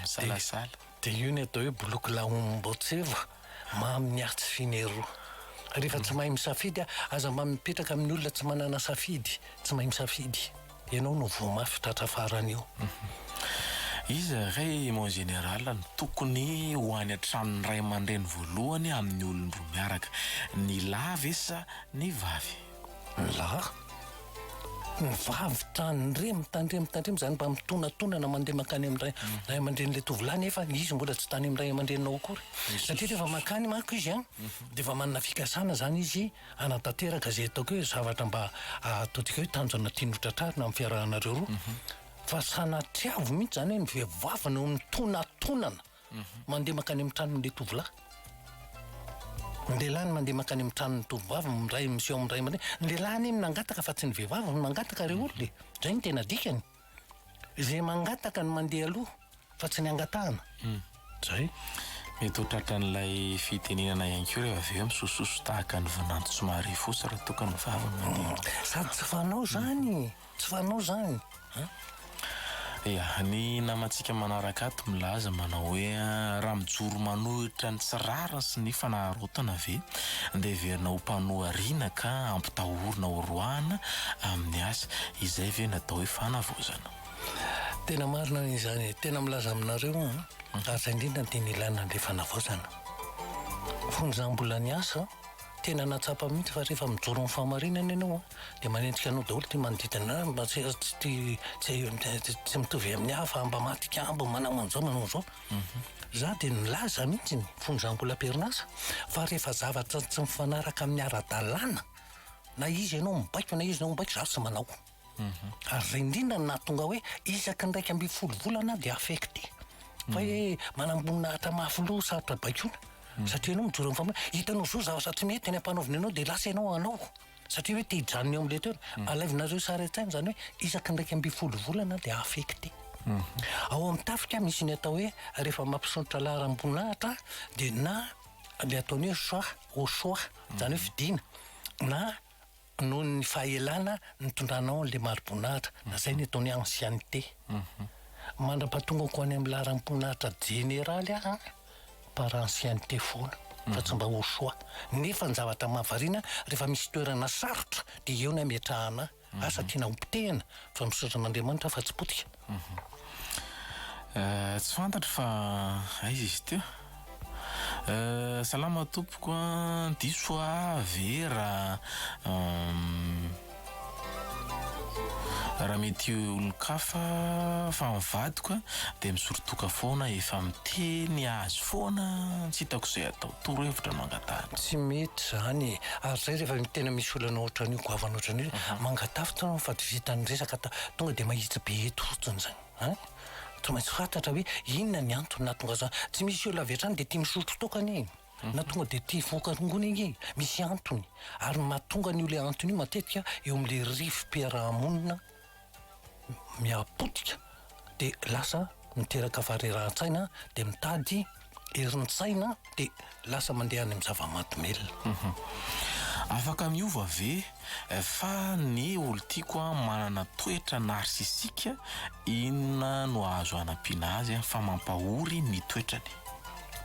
misalasala. Dia io ny atao hoe boloky laombotseva mamy ny ahy tsy finero. Rehefa tsy mahay misafidy aho, aza mba mipetraka amin'ny olona tsy manana safidy, tsy mahay misafidy. Ianao no voa mafy tratra farany io. Iza re mon général no tokony ho any an-tranon'ny ray aman-dreny voalohany amin'ny olon-droa miaraka, ny lahy ve sa ny vavy? La. Ny vavy tandremo, mitandremo, tandremo izany mba mitonatonana mandeha mankany amin'ny ray ray aman-drenin'ilay tovolahy nefa izy mbola tsy tany amin'ny ray aman-dreniny ao akory. Satria rehefa mankany manko izy an, dia efa manana fikasana izany izy hanatanteraka izay ataoko hoe zavatra mba ahatodika hoe tanjona tiany hotratrarina amin'ny fiarahanareo roa. Fa sanatria avy mihitsy izany hoe ny vehivavy no mitonatonana. Mandeha mankany amin'ny tranon'ilay tovolahy. Ny lehilahy no mandeha mankany amin'ny tranon'ny tovovavy miray miseho amin'ny ray aman-dreny. Ny lehilahy anie no nangataka fa tsy ny vehivavy no nangataka ry olona e. Izay no tena dikany. Izay mangataka no mandeha aloha fa tsy ny angatahana. Izay. Mety ho tratran'ilay fitenenana ihany koa rehefa avy eo misosososo tahaka ny vinanto somary fotsy raha toa ka ny vavy no mandeha. Sady tsy fanao izany e. Tsy fanao zany an! Ia, ny namantsika manaraka ato milaza manao hoe raha mijoro manohitra ny tsy rariny sy ny fanararaotana ve dia heverina ho mpanohariana ka ampitahorina ho roahina amin'ny asa. Izay ve no atao hoe fanavaozana? Tena marina ny izany e! Tena milaza aminareo aho an! Asa indrindra no tena ilana an'ilay fanavaozana. Fony izaho mbola niasa. Tena nahatsapa mihitsy fa rehefa mijoro amin'ny fahamarinana ianao dia manenjika anao daholo ity manodidina anao mba tsy tsy mitovy amin'ny hafa mba mahatikabo manao an'izao manao an'izao. Mhm. Za dia nilaza mihitsy ny fonjangola am-perinasa fa rehefa zavatra tsy mifanaraka amin'ny ara-dalàna na izy ianao mibaiko na izy ianao mibaiko za tsy manao. Ary zay indrindra no nahatonga hoe isaky ny iraika ambin'ny folo volana aho dia affecté. Fa hoe manamboninahitra mafy loha sarotra baikoina. Hmm. Satria ianao mijoro amin'ny fambolena. Hitanao zo zavatra tsy mety any ampanaovina ianao dia lasa ianao hanao. Satria hoe te hijanona eo amin'ilay toerana. Hmm. Alaivinareo sary an-tsaina izany hoe isaky ny iraika ambin'ny folo volana dia affecté. Hmm. Ao amin'ny tafika misy ny atao hoe rehefa mampisonotra laharam-boninahitra dia na le ataony hoe choix au choix, izany hoe fidina na Noho ny fahaelana nitondranao an'ilay mariboninahitra, izay ny ataon'ny ancienneté. Mandra-pahatongako any amin'ny laharam-poninahitra jeneraly aho par ancienneté foana fa tsy mba au choix. Nefa ny zavatra mahavariana, rehefa misy toerana sarotra dia eo ny hametrahana ahy. Asa tiana hopotehina fa misaotra an'Andriamanitra aho fa tsy potika. Tsy fantatro fa aiza izy ity a. Salama tompoko a, diso hoa Vera a, raha mety olon-kafa fa ny vadiko a dia misorotoka foana efa miteny azy foana tsy hitako izay atao, toro hevitra no angataha. Tsy mety izany e, ary izay rehefa tena misy olana ohatran'io, goavana ohatran'io, mangataha fotsiny fa tsy vitan'ny resaka, Tonga dia mahitsy be eto fotsiny izany an! Tsy maintsy fantatra hoe inona ny antony nahatonga azy any. Tsy misy olona avy hatrany dia tia misotro toaka anie e! Na tonga dia tia hivoaka rongony anie e! Misy antony. Ary ny mahatonga an'io ilay antony io matetika eo amin'ilay rivo-piaraha-monina miha potika dia lasa miteraka faharerahan-tsaina dia mitady herin-tsaina dia lasa mandeha any amin'ny zava-mahadomelina. Afaka miova ve fa ny olon-tiako manana toetra narsisika, inona no azo anampiana azy fa mampahory ny toetrany?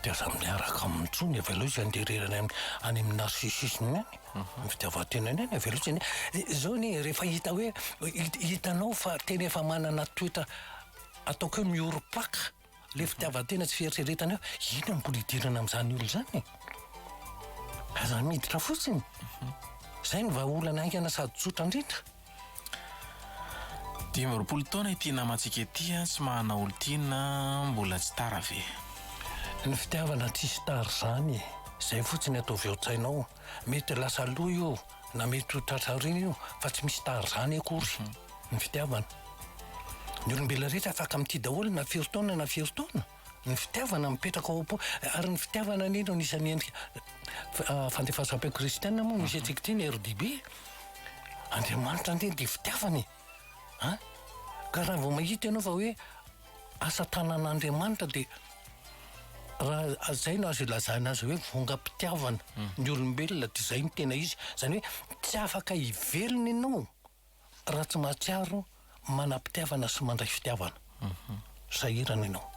Dia aza miaraka aminy tsony, avelao izy handeha irery any amin'ny narsisisme any, amin'ny fitiavan-tenany any, avelao izy handeha. Izao anie rehefa hita hoe, hitanao fa tena efa manana toetra ataoko hoe miorim-paka, Ilay fitiavan-tena tsy fieritreretana eo, inona no mbola hidirana amin'izany olona izany e? Aza miditra fotsiny. Izay no vahaolana haingana sady tsotra indrindra. Dimy amby roapolo taona ity namantsika ity, tsy mahana olon-tiana, mbola tsy tara ve? Ny fitiavana tsisy tara izany e. Izay fotsiny ataovy ao an-tsainao. Mety lasa lo io. Na mety ho tratra aoriana io fa tsy misy tary zany akory ny fitiavana. Ny olombelona rehetra afaka mitia daholo na firy taona na firy taona. Ny fitiavana mipetraka ao am-po ary ny fitiavana anie no anisan'ny endrika ah, fandefasam-peo kristiana moa misy antsika ity ny RDB. Andriamanitra anie dia fitiavana e. An? Ka raha vao mahita ianao fa hoe Asa tanan'Andriamanitra dia raha zay no azo ilazana azy hoe vongam-pitiavana hmm. ny olombelona dia zay ny tena izy zany hoe tsy afaka hivelona ianao raha tsy mahatsiaro manam-pitiavana sy mandray fitiavana mhm. sahirana ianao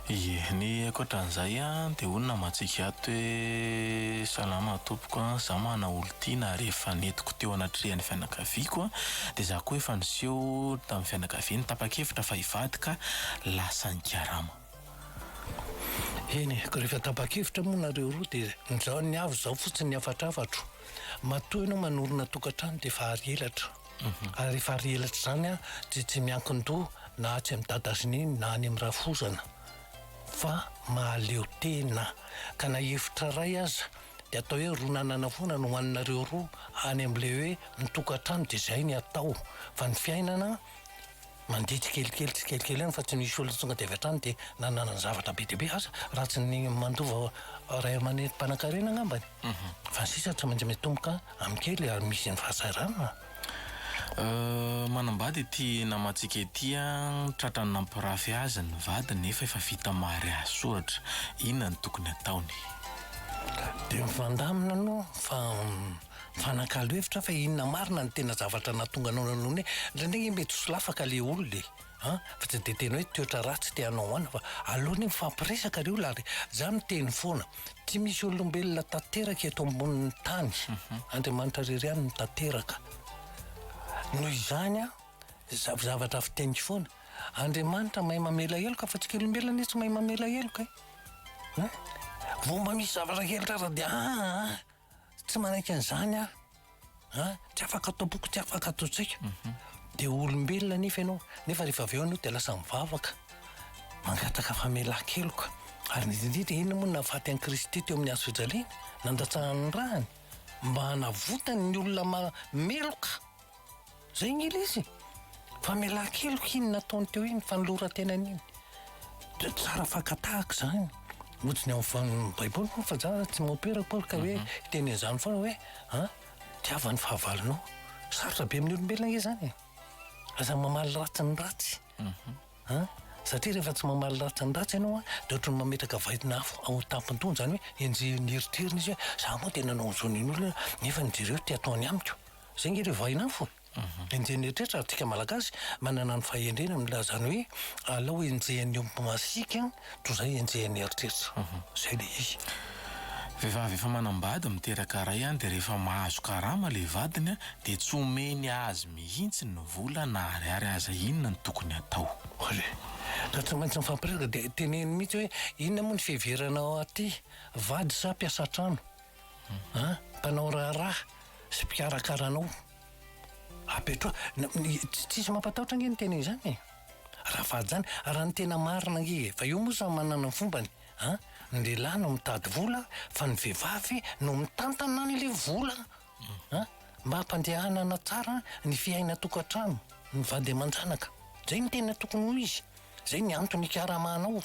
Ie. Ny ankoatran'izay dia hoy ny namantsika ato hoe, Salama tompoko a! Izaho manana olon-tiana ary efa nentiko teo anatrehan'ny fianakaviako dia izaho koa efa niseho tamin'ny fianakaviany tapa-kevitra fa hivady ka lasa nikarama. Eny e, ka rehefa tapa-kevitra moa nareo roa dia nizaho ny avo izaho fotsiny ny hafatrafatro. Matoa ianao manorina tokantrano dia efa ary elatra. Ary rehefa ary elatra izany dia tsy miankin-doha na atsy amin'i Dadazinia na any amin'i Rafozana fa mahaleo tena ka na efitra iray aza dia atao hoe roa nanana foana no hohaninareo roa any amin'ilay hoe mitokan-trano dia izay ny atao fa ny fiainana Mandeha tsikelikely tsikelikely ihany fa tsy misy olona tonga dia avy hatrany dia nanana zavatra be dia be. Asa raha tsy ny mandova ray aman'reny mpanankarena angambany. Fa ny sisa tsy maintsy mitomboka amin'ny kely ary misy ny fahasahiranana. Manambady ity namantsika ity an, tratran'ny nampirafy azy ny vadiny nefa efa vita mariazy soratra. Inona no tokony ataony? Dia mifandamina aloha fa Mifanakalo hevitra fa inona marina ny tena zavatra nahatonga anao nanao an'iny e! Indraindray nge mety ho solafaka le olona e! an! fa tsy dia tena hoe toetra ratsy te hanao an! fa aleo anie mifampiresaka ry olona ary za miteny foana, tsy misy olombelona tanteraka eto ambonin'ny tany, Andriamanitra rery ihany no tanteraka, noho izany an! za zavatra fiteniko foana, Andriamanitra mahay mamela heloka fa tsika olombelona anie tsy mahay mamela heloka e! an! vao mba misy zavatra kely rara dia an! Tsy manaiky an'izany aho a! Tsy afaka atao boky, tsy afaka atao tsaika. Dia olombelona anefa ianao, nefa rehefa avy eo ianao dia lasa mivavaka, mangataka famelan-keloka. Ary indrindra indrindra, inona moa no nahafaty an'i Kristy teo amin'ny hazo fijaliana? Nandatsahany ny ràny mba hanavotany ny olona ma- meloka. Zay nge le izy e! Fa mialà keloka iny nataony teo iny fanoloran-tenany iny. Dia tsara fakan-tahaka izany. Ojiny ao amin'ny Baiboly moa fa za tsy mopera akory ka hoe hiteny an'izany foana hoe an, tiava ny fahavalonao. Sarotra be amin'ny olombelona ange izany e. Aza mamaly ratsy ny ratsy. An, satria rehefa tsy mamaly ratsy ny ratsy ianao an, dia ohatran'ny mametraka vaidina afo ao an-tampon-dohany. Izany hoe enjehin'ny eritreriny izy hoe za moa dia nanao an'izao nen'olona nefa ny jereo ity ataony amiko. Izay nge le vahiny afo e! Enjehin'ny eritreritra ary tsika Malagasy manana ny fahendrena milaza izany hoe alao enjehin'ny omby masiaka toy izay enjehin'ny eritreritra. Izay le izy. Vehivavy efa manambady miteraka ray an dia rehefa mahazo karama le vadiny an dia tsy omeny azy mihintsy ny vola na ariary aza inona no tokony hatao. Ory. Raha tsy maintsy mifampiresaka dia teneno mihintsy hoe inona moa ny fiheverana aty, vady sa mpiasa an-trano? An, mpanao raharaha sy mpikarakara anao. Apetraho, tsisy mampatahotra ange ny tena izany e. Rafahajana, raha ny tena marina ange e, fa io moa samy manana ny fombany an, ny lehilahy no mitady vola fa ny vehivavy no mitantana an'ilay vola an, mba hampandehanana tsara ny fiainan-tokantrano ny vady aman-janaka. Zay no tena tokony ho izy, zay ny antony ikaramahanao.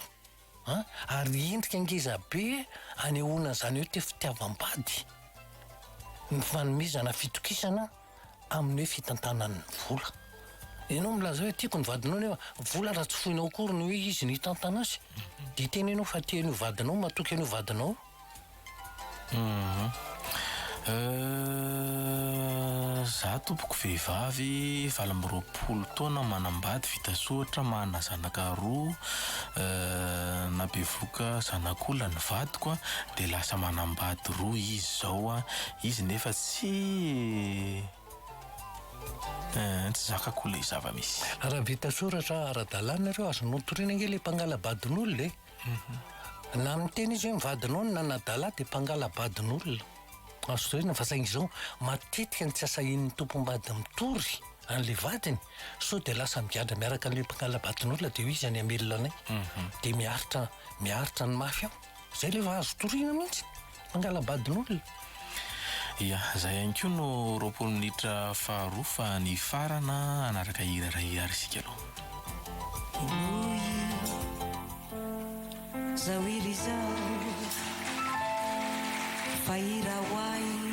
A, ary endrika ngezabe anehoana an'izany hoe te fitiavam-bady ny fanomezana fitokisana amin'ny hoe fitantanana ny vola. Ianao milaza hoe tiako ny vadinao nefa vola raha tsy foinao akory ny hoe izy no hitantana azy, dia tena ianao fa te an'io vadinao, matoky an'io vadinao. Za tompoko vehivavy valo amby roapolo taona manambady vita soritra manana zanaka roa na bevoka zanak'olona ny vadiko a de lasa manambady roa izy zao a izy nefa tsy tsy zakako le zava-misy. Raha vita soratra ara-dalàna ireo azonao toriana ange le mpangala-badin'olona e. Na miteny izy hoe ny vadinao no nanadala ahy dia mpangala-badin'olona. Azo tohina fa saingy izao matetika ny tsy asahian'ny tompom-bady mitory an'ilay vadiny sao dia lasa migadra miaraka amin'ilay mpangala-badin'olona dia hoy izy any hamelona anay dia miaritra miaritra ny mafy ao. Izay ilay vao azo toriana mihitsy. Fangalam-badin'olona? Ia, izay ihany koa no roapolo minitra faharoa fa nifarana hanaraka hira iray ary isika aloha. Inoy zao hira izao fa hira ho ahy.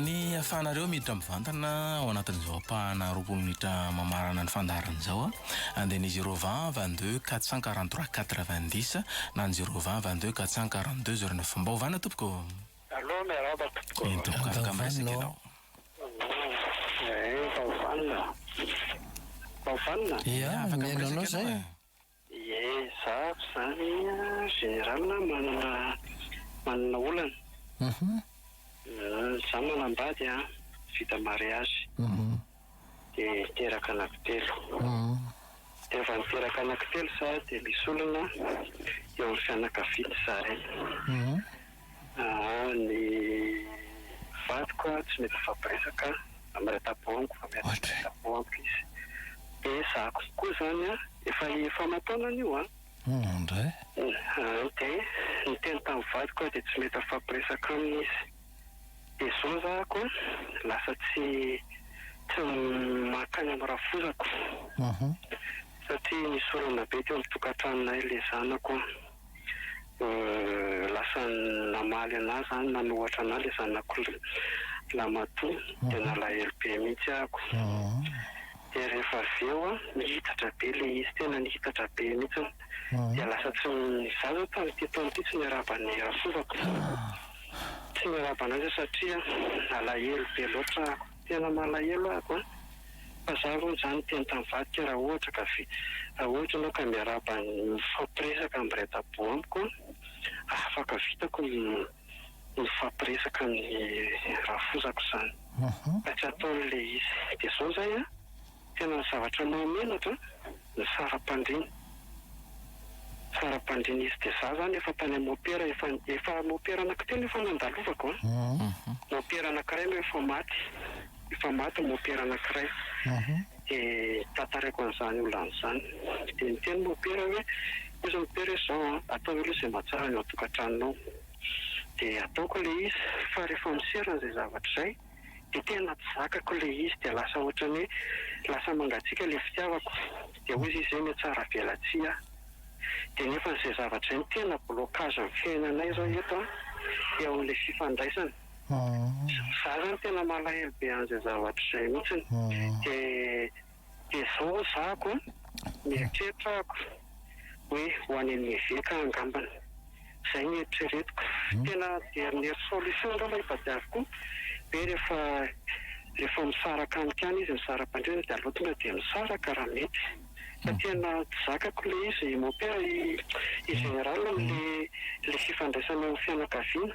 Ny ahafahanareo miditra mivantana ao anatin'izao ampahana roapolo minitra mamarana ny fandaharana izao an, dia ny zero vingt vingt deux quatre cent quarante trois quatre vingt dix na ny zero vingt vingt deux quatre cent quarante deux zero neuf. Mba ovàna tompoko ô! Allô, miarahaba tompoko. Eny tompoko, afaka miresaka ianao. Efa ovanona. Efa ovanona? Ia, afaka miresaka ianao e. Ie zah ko zany général manana manana olana zah manambady an vita mariage de niteraka anako telo de efa niteraka anako telo zah de misy olana eo amin'ny fianakaviany zahay Aa ny vadiko a tsy mety mifampiresaka a mireta-po amiko fa mety tsy mireta-po amiko izy de zako koa zany a efa efa aman-taonany io an Indray. Aa de niteny tamin'ny vadiko aho de tsy mety mifampiresaka aminy izy de zao zako a lasa tsy tsy mankany amin'ny rafozako satria misy olana be teo amin'ny tokantranonay le zanako a. lasa namaly anah zany nanohatra anah le zanako lamatoa de nalahelo be mihitsy ako de rehefa avy eo an nihitatra be le izy tena nihitatra be mihitsy de lasa tsy za zany tamin'ity taona ity tsy niarahaba an'i rafompako zany tsy niarahaba anazy aho satria nalahelo be loatra ako Tena malahelo ako an! Fa za aloha zany tena tena mivadika raha ohatra ka ve raha ohatra enao ka miarahaba mifampiresaka am raidaboho amiko an! afaka vitako ny mifampiresaka am ny rafozako zany fa tsy ataony le izy de zao zay an! Tena zavatra mahamenatra ny saram-pandriana. Saram-pandriana izy dia za zany efa tany amin'ny mopera efa efa mopera anankitelo efa nandalovako an. Mopera anankiray aloha efa maty, efa maty ny mopera anankiray. Dia tantaraiko an'izany olana izany. Dia niteny mopera hoe, oza mopera hoe izao an, ataovy aloha izay mahatsara ny ao an-tokantranonao. Dia ataoko ilay izy fa rehefa miserana izay zavatra izay. de tena tsy zakako le izy de lasa ohatrany hoe lasa mangatsiaka le fitiavako de hoy izy hoe mihatsaravelatsihy aho de nefa izay zavatra izay no tena blocage amin'ny fiainanay zao eto an eo amin'ilay fifandraisana za zany tena malahelo be an'izay zavatra izay mihitsiny de Dia zao ho zahako an! Nieritreritako hoe ho any amin'ny eveka angambany. Zay ny eritreretiko. Tena dernière solution angamba itadiaviko koa hoe rehefa rehefa misaraka any kany izy mizara bandrena dia aleo tonga dia misaraka raha mety. Fa tena tsy zakako ilay izy mon père i général amin'ilay ilay fifandraisana amin'ny fianakaviana.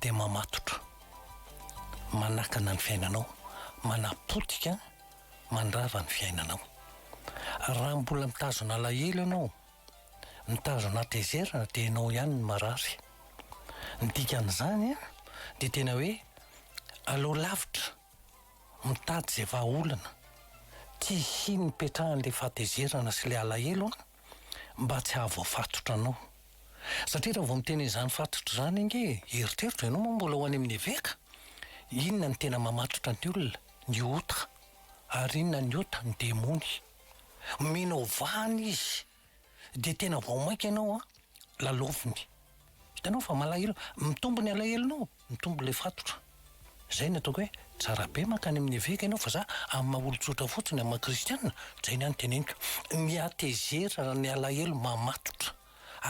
dia mamatotra, manakana ny fiainanao, manapotika, mandrava ny fiainanao. Raha mbola mitazona alahelo ianao, mitazona hatezerana dia ianao ihany no marary. Ny dikan'izany dia tena hoe aleo lavitra, mitady izay vahaolana, tsy hisian'ny hipetrahan'ilay fahatezerana sy ilay alahelo an! mba tsy hahavoafatotra anao. Satria raha vao miteny izany fatotra izany ange eritreritra ianao moa mbola ho any amin'ny eveka? Inona no tena mamatotra ny olona? Ny ota. Ary inona ny ota? Ny demony. Mino ho vahana izy dia tena vao mainka ianao lalaoviny. Hitanao fa malahelo, mitombo ny alahelonao. Mitombo ilay fatotra. Izay no ataoko hoe, tsara be mankany amin'ny eveka ianao fa za amin'ny maha olon-tsotra fotsiny, amin'ny maha kristiana, izay ny ahy no teneniko. Ny hatezerana, ny alahelo mamatotra.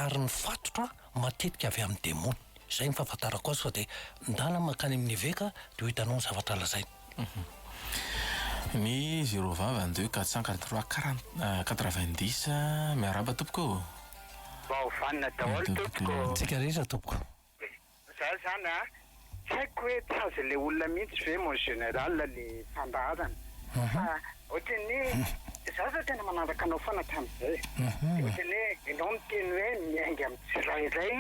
Ary ny fatotra matetika avy amin'ny demony. Izay ny fahafantarako azy fa dia ndana mankany amin'ny eveka dia ho hitanao ny zavatra lazainy. Ny zéro vava en deux quatre cent quarante trois quarante quatre vingt dix miarahaba tompoko ô! Vao vanona daholo tompoko ô! Antsika rehetra tompoko. Za zany a, tsy haiko hoe tsy azon'ilay olona mihitsy ve mon général le fandaharana fa ohatran'ny hoe za zao tena manaraka anao foana hatramin'izay e, de ohatran'ny hoe ianao miteny hoe miainga amin'ny tsirairay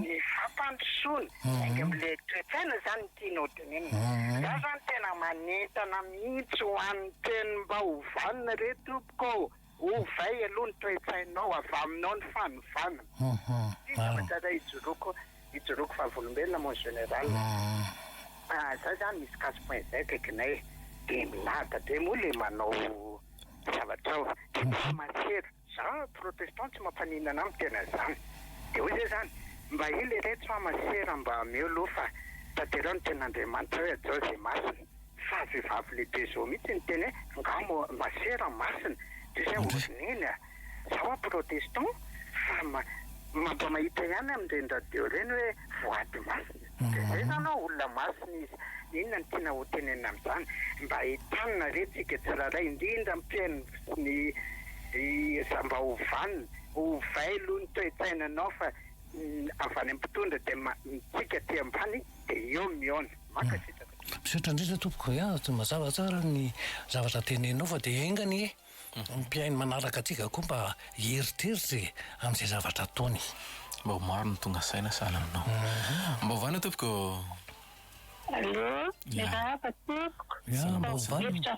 ny fampandrosoana, miainga amin'le toe-tsaina zany ny tianao tenenina. Za zany tena manentana mihitsy ho an'ny mpihaino mba ho vanona re tompoko ô! Ovay aloha ny toe-tsainao, avy aminao ny fanovana. Ity zavatra iray ijoroako, ijoroako vavolombelona mon général. Raha za zany misy casse point zay akaikinay de milahatra be moa le manao zavatra ao de mba maseru, za protestant tsy mampaninona ahy ny tena zany de hoy zay zany mba ela ireto fa maseru mba ameo aloha fa tanterao ny tenin'Andriamanitra hoe hajao ze masina. Fa vehivavy lehibe zao mihitsy niteny hoe angaha mo masera masina de zay vao ry neny a! Zaho a protestant fa ma mampamahita ihany amin'ireny radio ireny hoe voady masina de zay zany hoe olona masina izy! Inona no tiana ho tenenina amin'izany? Mba entanina ve tsika tsirairay indrindra ny mpihaino sy ny za mba ho vanona, ovay aloha ny toe-tsainanao fa avy any amin'ny mpitondra de ma tsika aty ambany de eo mihaona. Mankasitraka tompoko. Misaotra indrindra tompoko a, mazava tsara ny zavatra tenenao fa dia enga anie ny mpihaino manaraka antsika koa mba hieritreritra e, amin'izay zavatra ataony. Mba ho maro ny tonga saina sahala aminao. Mba ovaina tompoko ô. Allô, miarahaba tompoko. Mba ovaina.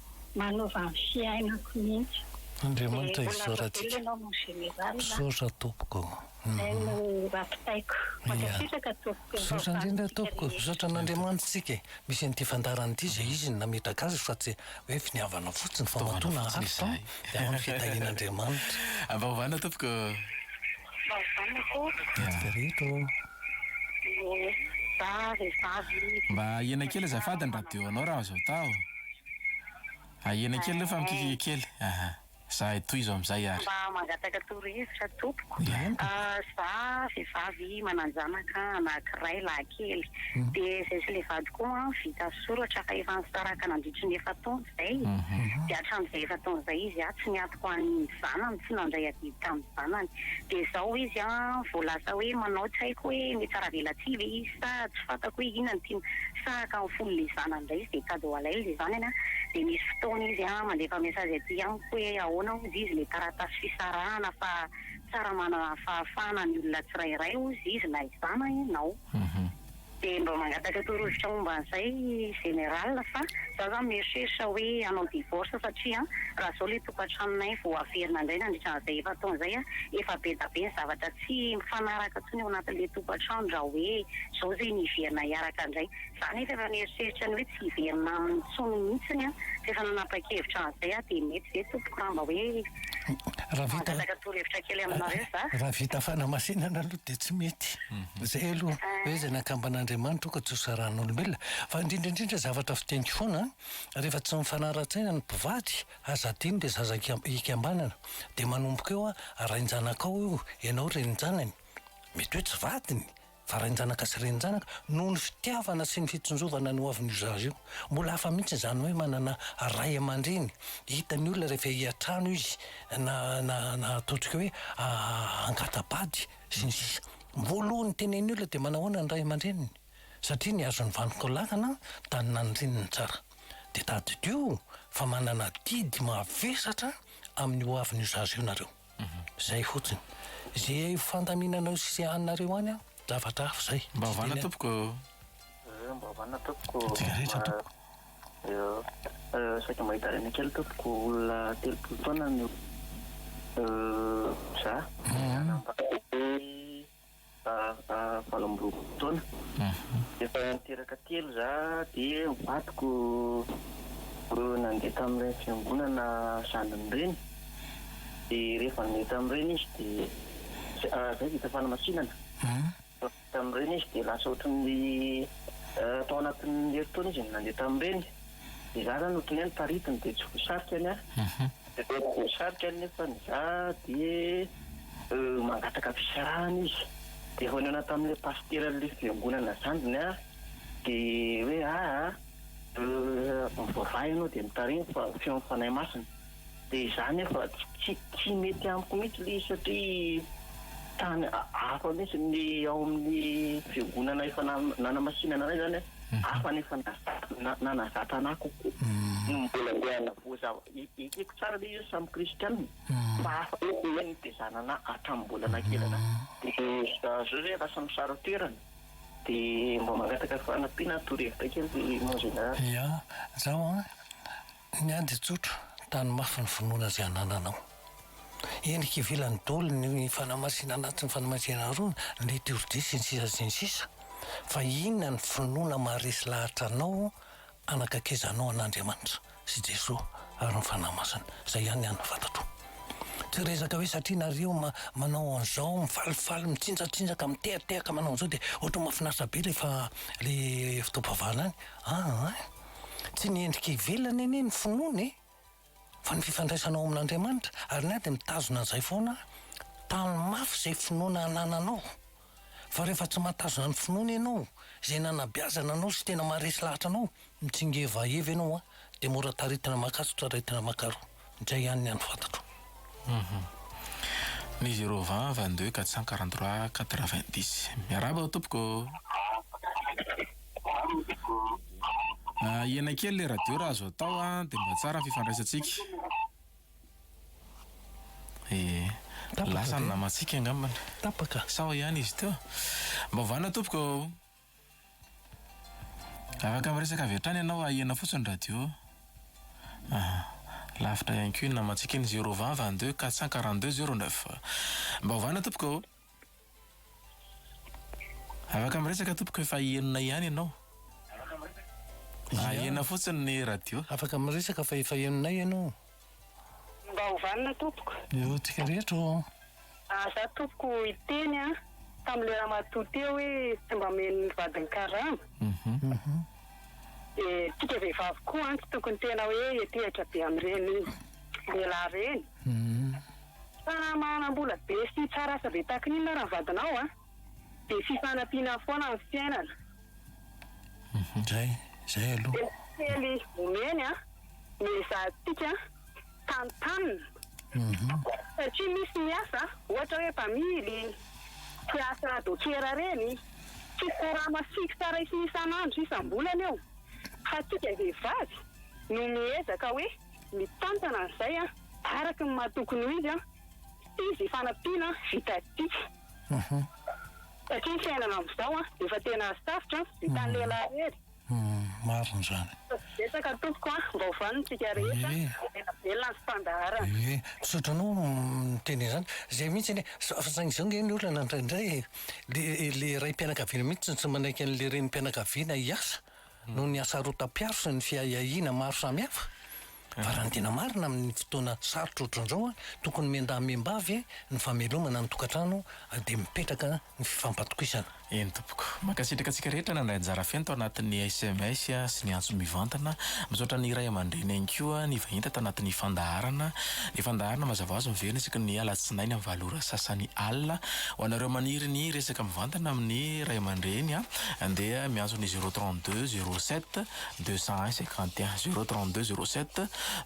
manova ny fiainako mihitsy. Andriamanitra hisaora antsika. Misaotra tompoko. Izay no rapitaiko. Mankasitraka tompoko. Misaotra indrindra tompoko. Misaotra an'Andriamanitra isika e. Misy an'ity fandaharana ity izay izy no nametraka azy fa tsy hoe finiavana fotsiny fa matoa naharitra an. Dia ao ny fitahian'Andriamanitra. Avaovana tompoko. Avaovana tompoko. Dia reto. Mba ahena kely azafady ny radio anao raha azo atao. Ahena kely aloha fa mikikika kely. Aha. Za tohizo amizay ary. Mba mangataka torohevitra tompoko. Za vehivavy mananjanaka anakiray lahy kely de zay sy le vadiko vita soratra fa efa nisaraka nandritry ny efa-taona izay e. Dia hatramin'izay efa-taona izay izy an, tsy niato ho an'ny zanany, tsy nandray adidy tamin'ny zanany. Dia izao izy an, vao lasa hoe manao, tsy haiko hoe mitsara-velatsihy ve izy sa tsy fantako hoe inona no tiany, sahaka ny fon'ilay zanany indray izy dia tady ho alainy ilay zanany an. Dia misy fotoana izy an, mandefa message aty amiko hoe ahoana hozy izy ilay taratasy fisarahana fa tsara manana fahafahana ny olona tsirairay hozy izy na izana ianao. Dia mba mangataka torohevitra momba an'izay Général fa za zany mieritreritra hoe hanao divorce satria raha zao le tokatranonay vao haverina indray nandritra an'izay efa-taona izay an, efa bedabe ny zavatra tsy mifanaraka intsony ao anatin'le tokatrano raha hoe zao zegny hiverina hiaraka indray. Za nefa efa mieritreritra ny hoe tsy hiverina aminy intsony mihitsiny an, fa efa nanapa-kevitra an'izay aho dia mety ve tompoko raha mba hoe mangataka torohevitra kely aminareo za. Raha vita fanamasinana aloha dia tsy mety. Izay aloha hoe izay nakamban'Andriamanitra ka tsy ho sarahan'olombelona. Fa indrindra indrindra zavatra fiteniko foana an, rehefa tsy mifanara-tsaina ny mpivady aza adino dia zaza hikambanana dia manomboka eo an, rain-janakao io ianao renin-janany, mety hoe tsy vadiny fa rain-janaka sy renin-janaka, noho ny fitiavana sy ny fitsinjovana ny ho avin'io zaza io. Mbola hafa mihitsy izany hoe manana ray aman-dreny, hitan'ny olona rehefa hiatrano izy na na na ataontsika hoe angata-bady. sy ny sisa Mbola ny tena eny olona dia manao ahoana ny ray aman-dreniny satria nihazo ny vantoka lakana tany nandrininy tsara dia tadidio fa manana adidy mavesatra amin'ny ho avin'io zaza io nareo zay fotsiny ze fandaminanao sy anareo any an zavatra hafa zay Mba vanona tompoko. Mba vanona tompoko. Antsika rehetra tompoko. Saika mba hitaraina kely tompoko, olona telopolo taona no za, valo amby roapolo taona, efa niteraka telo za dia vadiko roa nandeha tamin'ireny fiangonana zanany ireny, dia rehefa nandeha tamin'ireny izy dia zay vao hita fanamasinana. Tamin'ireny izy dia lasa ohatry ny tao anatin'ny herintaona izy no nandeha tamin'ireny. Dia za zany ohatry ny hoe niparitiny dia tsy voasarika ny ahy. Dia rehefa tsy voasarika anefa ny za dia mangataka fisarahana izy. Dia vao nihaona tamin'ilay pasiteran'ilay fiangonana zandriny aho dia hoe aa mivavaha ianao dia mitarimo fa feon'ny Fanahy Masina. Dia izany aho fa tsy tsy mety amiko mihitsy ilay izy satria tany hafa mihitsy ny ao amin'ny fiangonana efa nanamasinana anay izany an, hafa ny efa nanazatra anah kokoa no mbola andeha hanavoza aho. Ekeko tsara ilay izy hoe samy kristiana fa hafa mihitsy ny nitezana anah hatramin'ny mbola nakelana dia izao izay lasa misara toerana dia mba mangataka fanampiana torohevitra kely mon général. Ia, zao an. Niady tsotra tany mafy ny finoana izay anananao. Endrika ivelan'ny dol ny fanamasinana anatin'ny fanamasinana arona, ny liturgie sy ny sisa sy ny sisa. Fa inona ny finoana maharesy lahatra anao hanakaikezanao an'Andriamanitra sy Jesoa ary ny Fanahy Masina. Izay ihany an fantatro. Tsy rezaka hoe satria nareo ma manao an'izao, mifalifaly, mitsinjatsinjaka, mitehatehaka manao an'izao dia ohatran'ny mahafinaritra be ilay fa ilay fotoam-pivavahana any. Aa. Tsy ny endrika ivelany anie ny finoana e! Fa ny fifandraisanao amin'Andriamanitra. Ary ny ahy dia mitazona an'izay foana aho. Tano mafy izay finoana anananao. Fa rehefa tsy mahatazona ny finoana ianao, izay nanabeazana anao sy tena maharesy lahatra anao, mitsingevaheva ianao dia mora taritina makatso, taritina makaroa. Izay ihany ny hany fantatro. Ny zéro vingt vingt deux quatre cent quarante trois quatre vingt dix miarahaba ao tompoko ô. Ahena kely le radio raha azo atao an de mba tsara ny fifandraisantsika e. Lasa ny namantsika angambany. Tapaka. Sao ihany izy teo. Mba ovana tompoko ô. Afaka miresaka avy hatrany ianao ahena fotsiny ny radio a. Aha. Lavitra ihany koa iny namantsika iny zero vingt vingt deux quatre cent quarante deux zero neuf. Mba ovana tompoko ô. Afaka miresaka tompoko efa enina ihany ianao. Ahena fotsiny ny radio. Afaka miresaka fa efa enina ianao. Mba ho vanona tompoko. Eo antsika rehetra ô. Ary za tompoko hiteny an, tamin'ilay ramatoa teo hoe tsy mba omeny ny vadiny karama, dia tsika vehivavy koa an tsy tokony tena hoe hiantehitra be amin'ireny lehilahy ireny, fa manam-bola be sy tsara asa be tahaka ny inona ary ny vadinao an. Dia fifanampiana foana ny fiainana. Zay, zay aloha. Dia ny kely omeny an, no ezahantsika tantanina. Satria misy ny asa, ohatra hoe mpamily, mpiasa dokera reny, tsy korama fixe raisina isan'andro, isam-bolana eo. Fa antsika vehivavy no miezaka hoe mitantana an'izay an, araka ny maha tokony ho izy an, sy izy hifanampiana vitantsika. Satria ny fiainana amin'izao an, efa tena sarotra, vitan'ny lehilahy irery. Marina izany. Ataovy betsaka tompoko an, mba ho vanon-tsika rehetra, homena velona ny fandaharana. Ie, misaotra anao miteny an'izany. Izay mihitsy anie, fa saingy izao ange ny olana indraindray e, le, le raim-pianakaviana mihitsy tsy manaiky an'le renim-pianakaviana hiasa. noho ny hasarotam-piaro sy ny fiahiahiana maro samihafa? Fa raha ny tena marina amin'ny fotoana sarotra ohatran'izao, tokony miandahy miambavy ve ny famelomana ny tokantrano dia mipetraka ny fifampatokisana? Eny tompoko. Mankasitraka antsika rehetra nandray anjara feno tao anatin'ny sms sy ny antso mivantana. Misaotra ny ray aman-dreny ihany koa nivahiny tato anatin'ny fandaharana. Ny fandaharana mazava ho azy miverina isaky ny alatsinainy amin'ny valo ora sasany alina. Ho anareo maniry ny hiresaka mivantana amin'ny ray aman-dreny, dia miantso ny zéro trente deux zéro sept deux cent un cinquante et un zéro trente deux zéro sept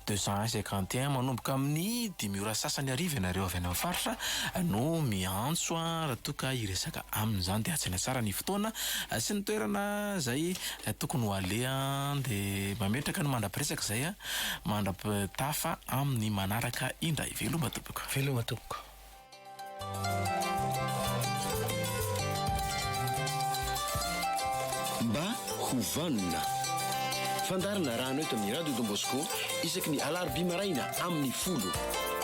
deux cent un cinquante et un manomboka amin'ny dimy ora sasany hariva ianareo avy any amin'ny faritra no miantso raha toa ka hiresaka aminy izany dia hajaina tsara ny fotoana sy ny toerana izay tokony ho aleha dia mametraka ny mandra-piresaka izay mandra-pitafa amin'ny manaraka indray veloma tompoko. Veloma tompoko. Mba ho vanona. Fandaharana arahana eto amin'ny Radio Don Bosco isaky ny alarobia maraina amin'ny folo.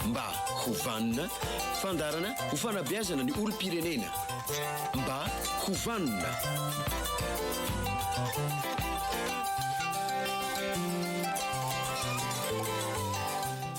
Mba ho vanona. Fandaharana ho fanabeazana ny olom-pirenena. Mba ho vanona.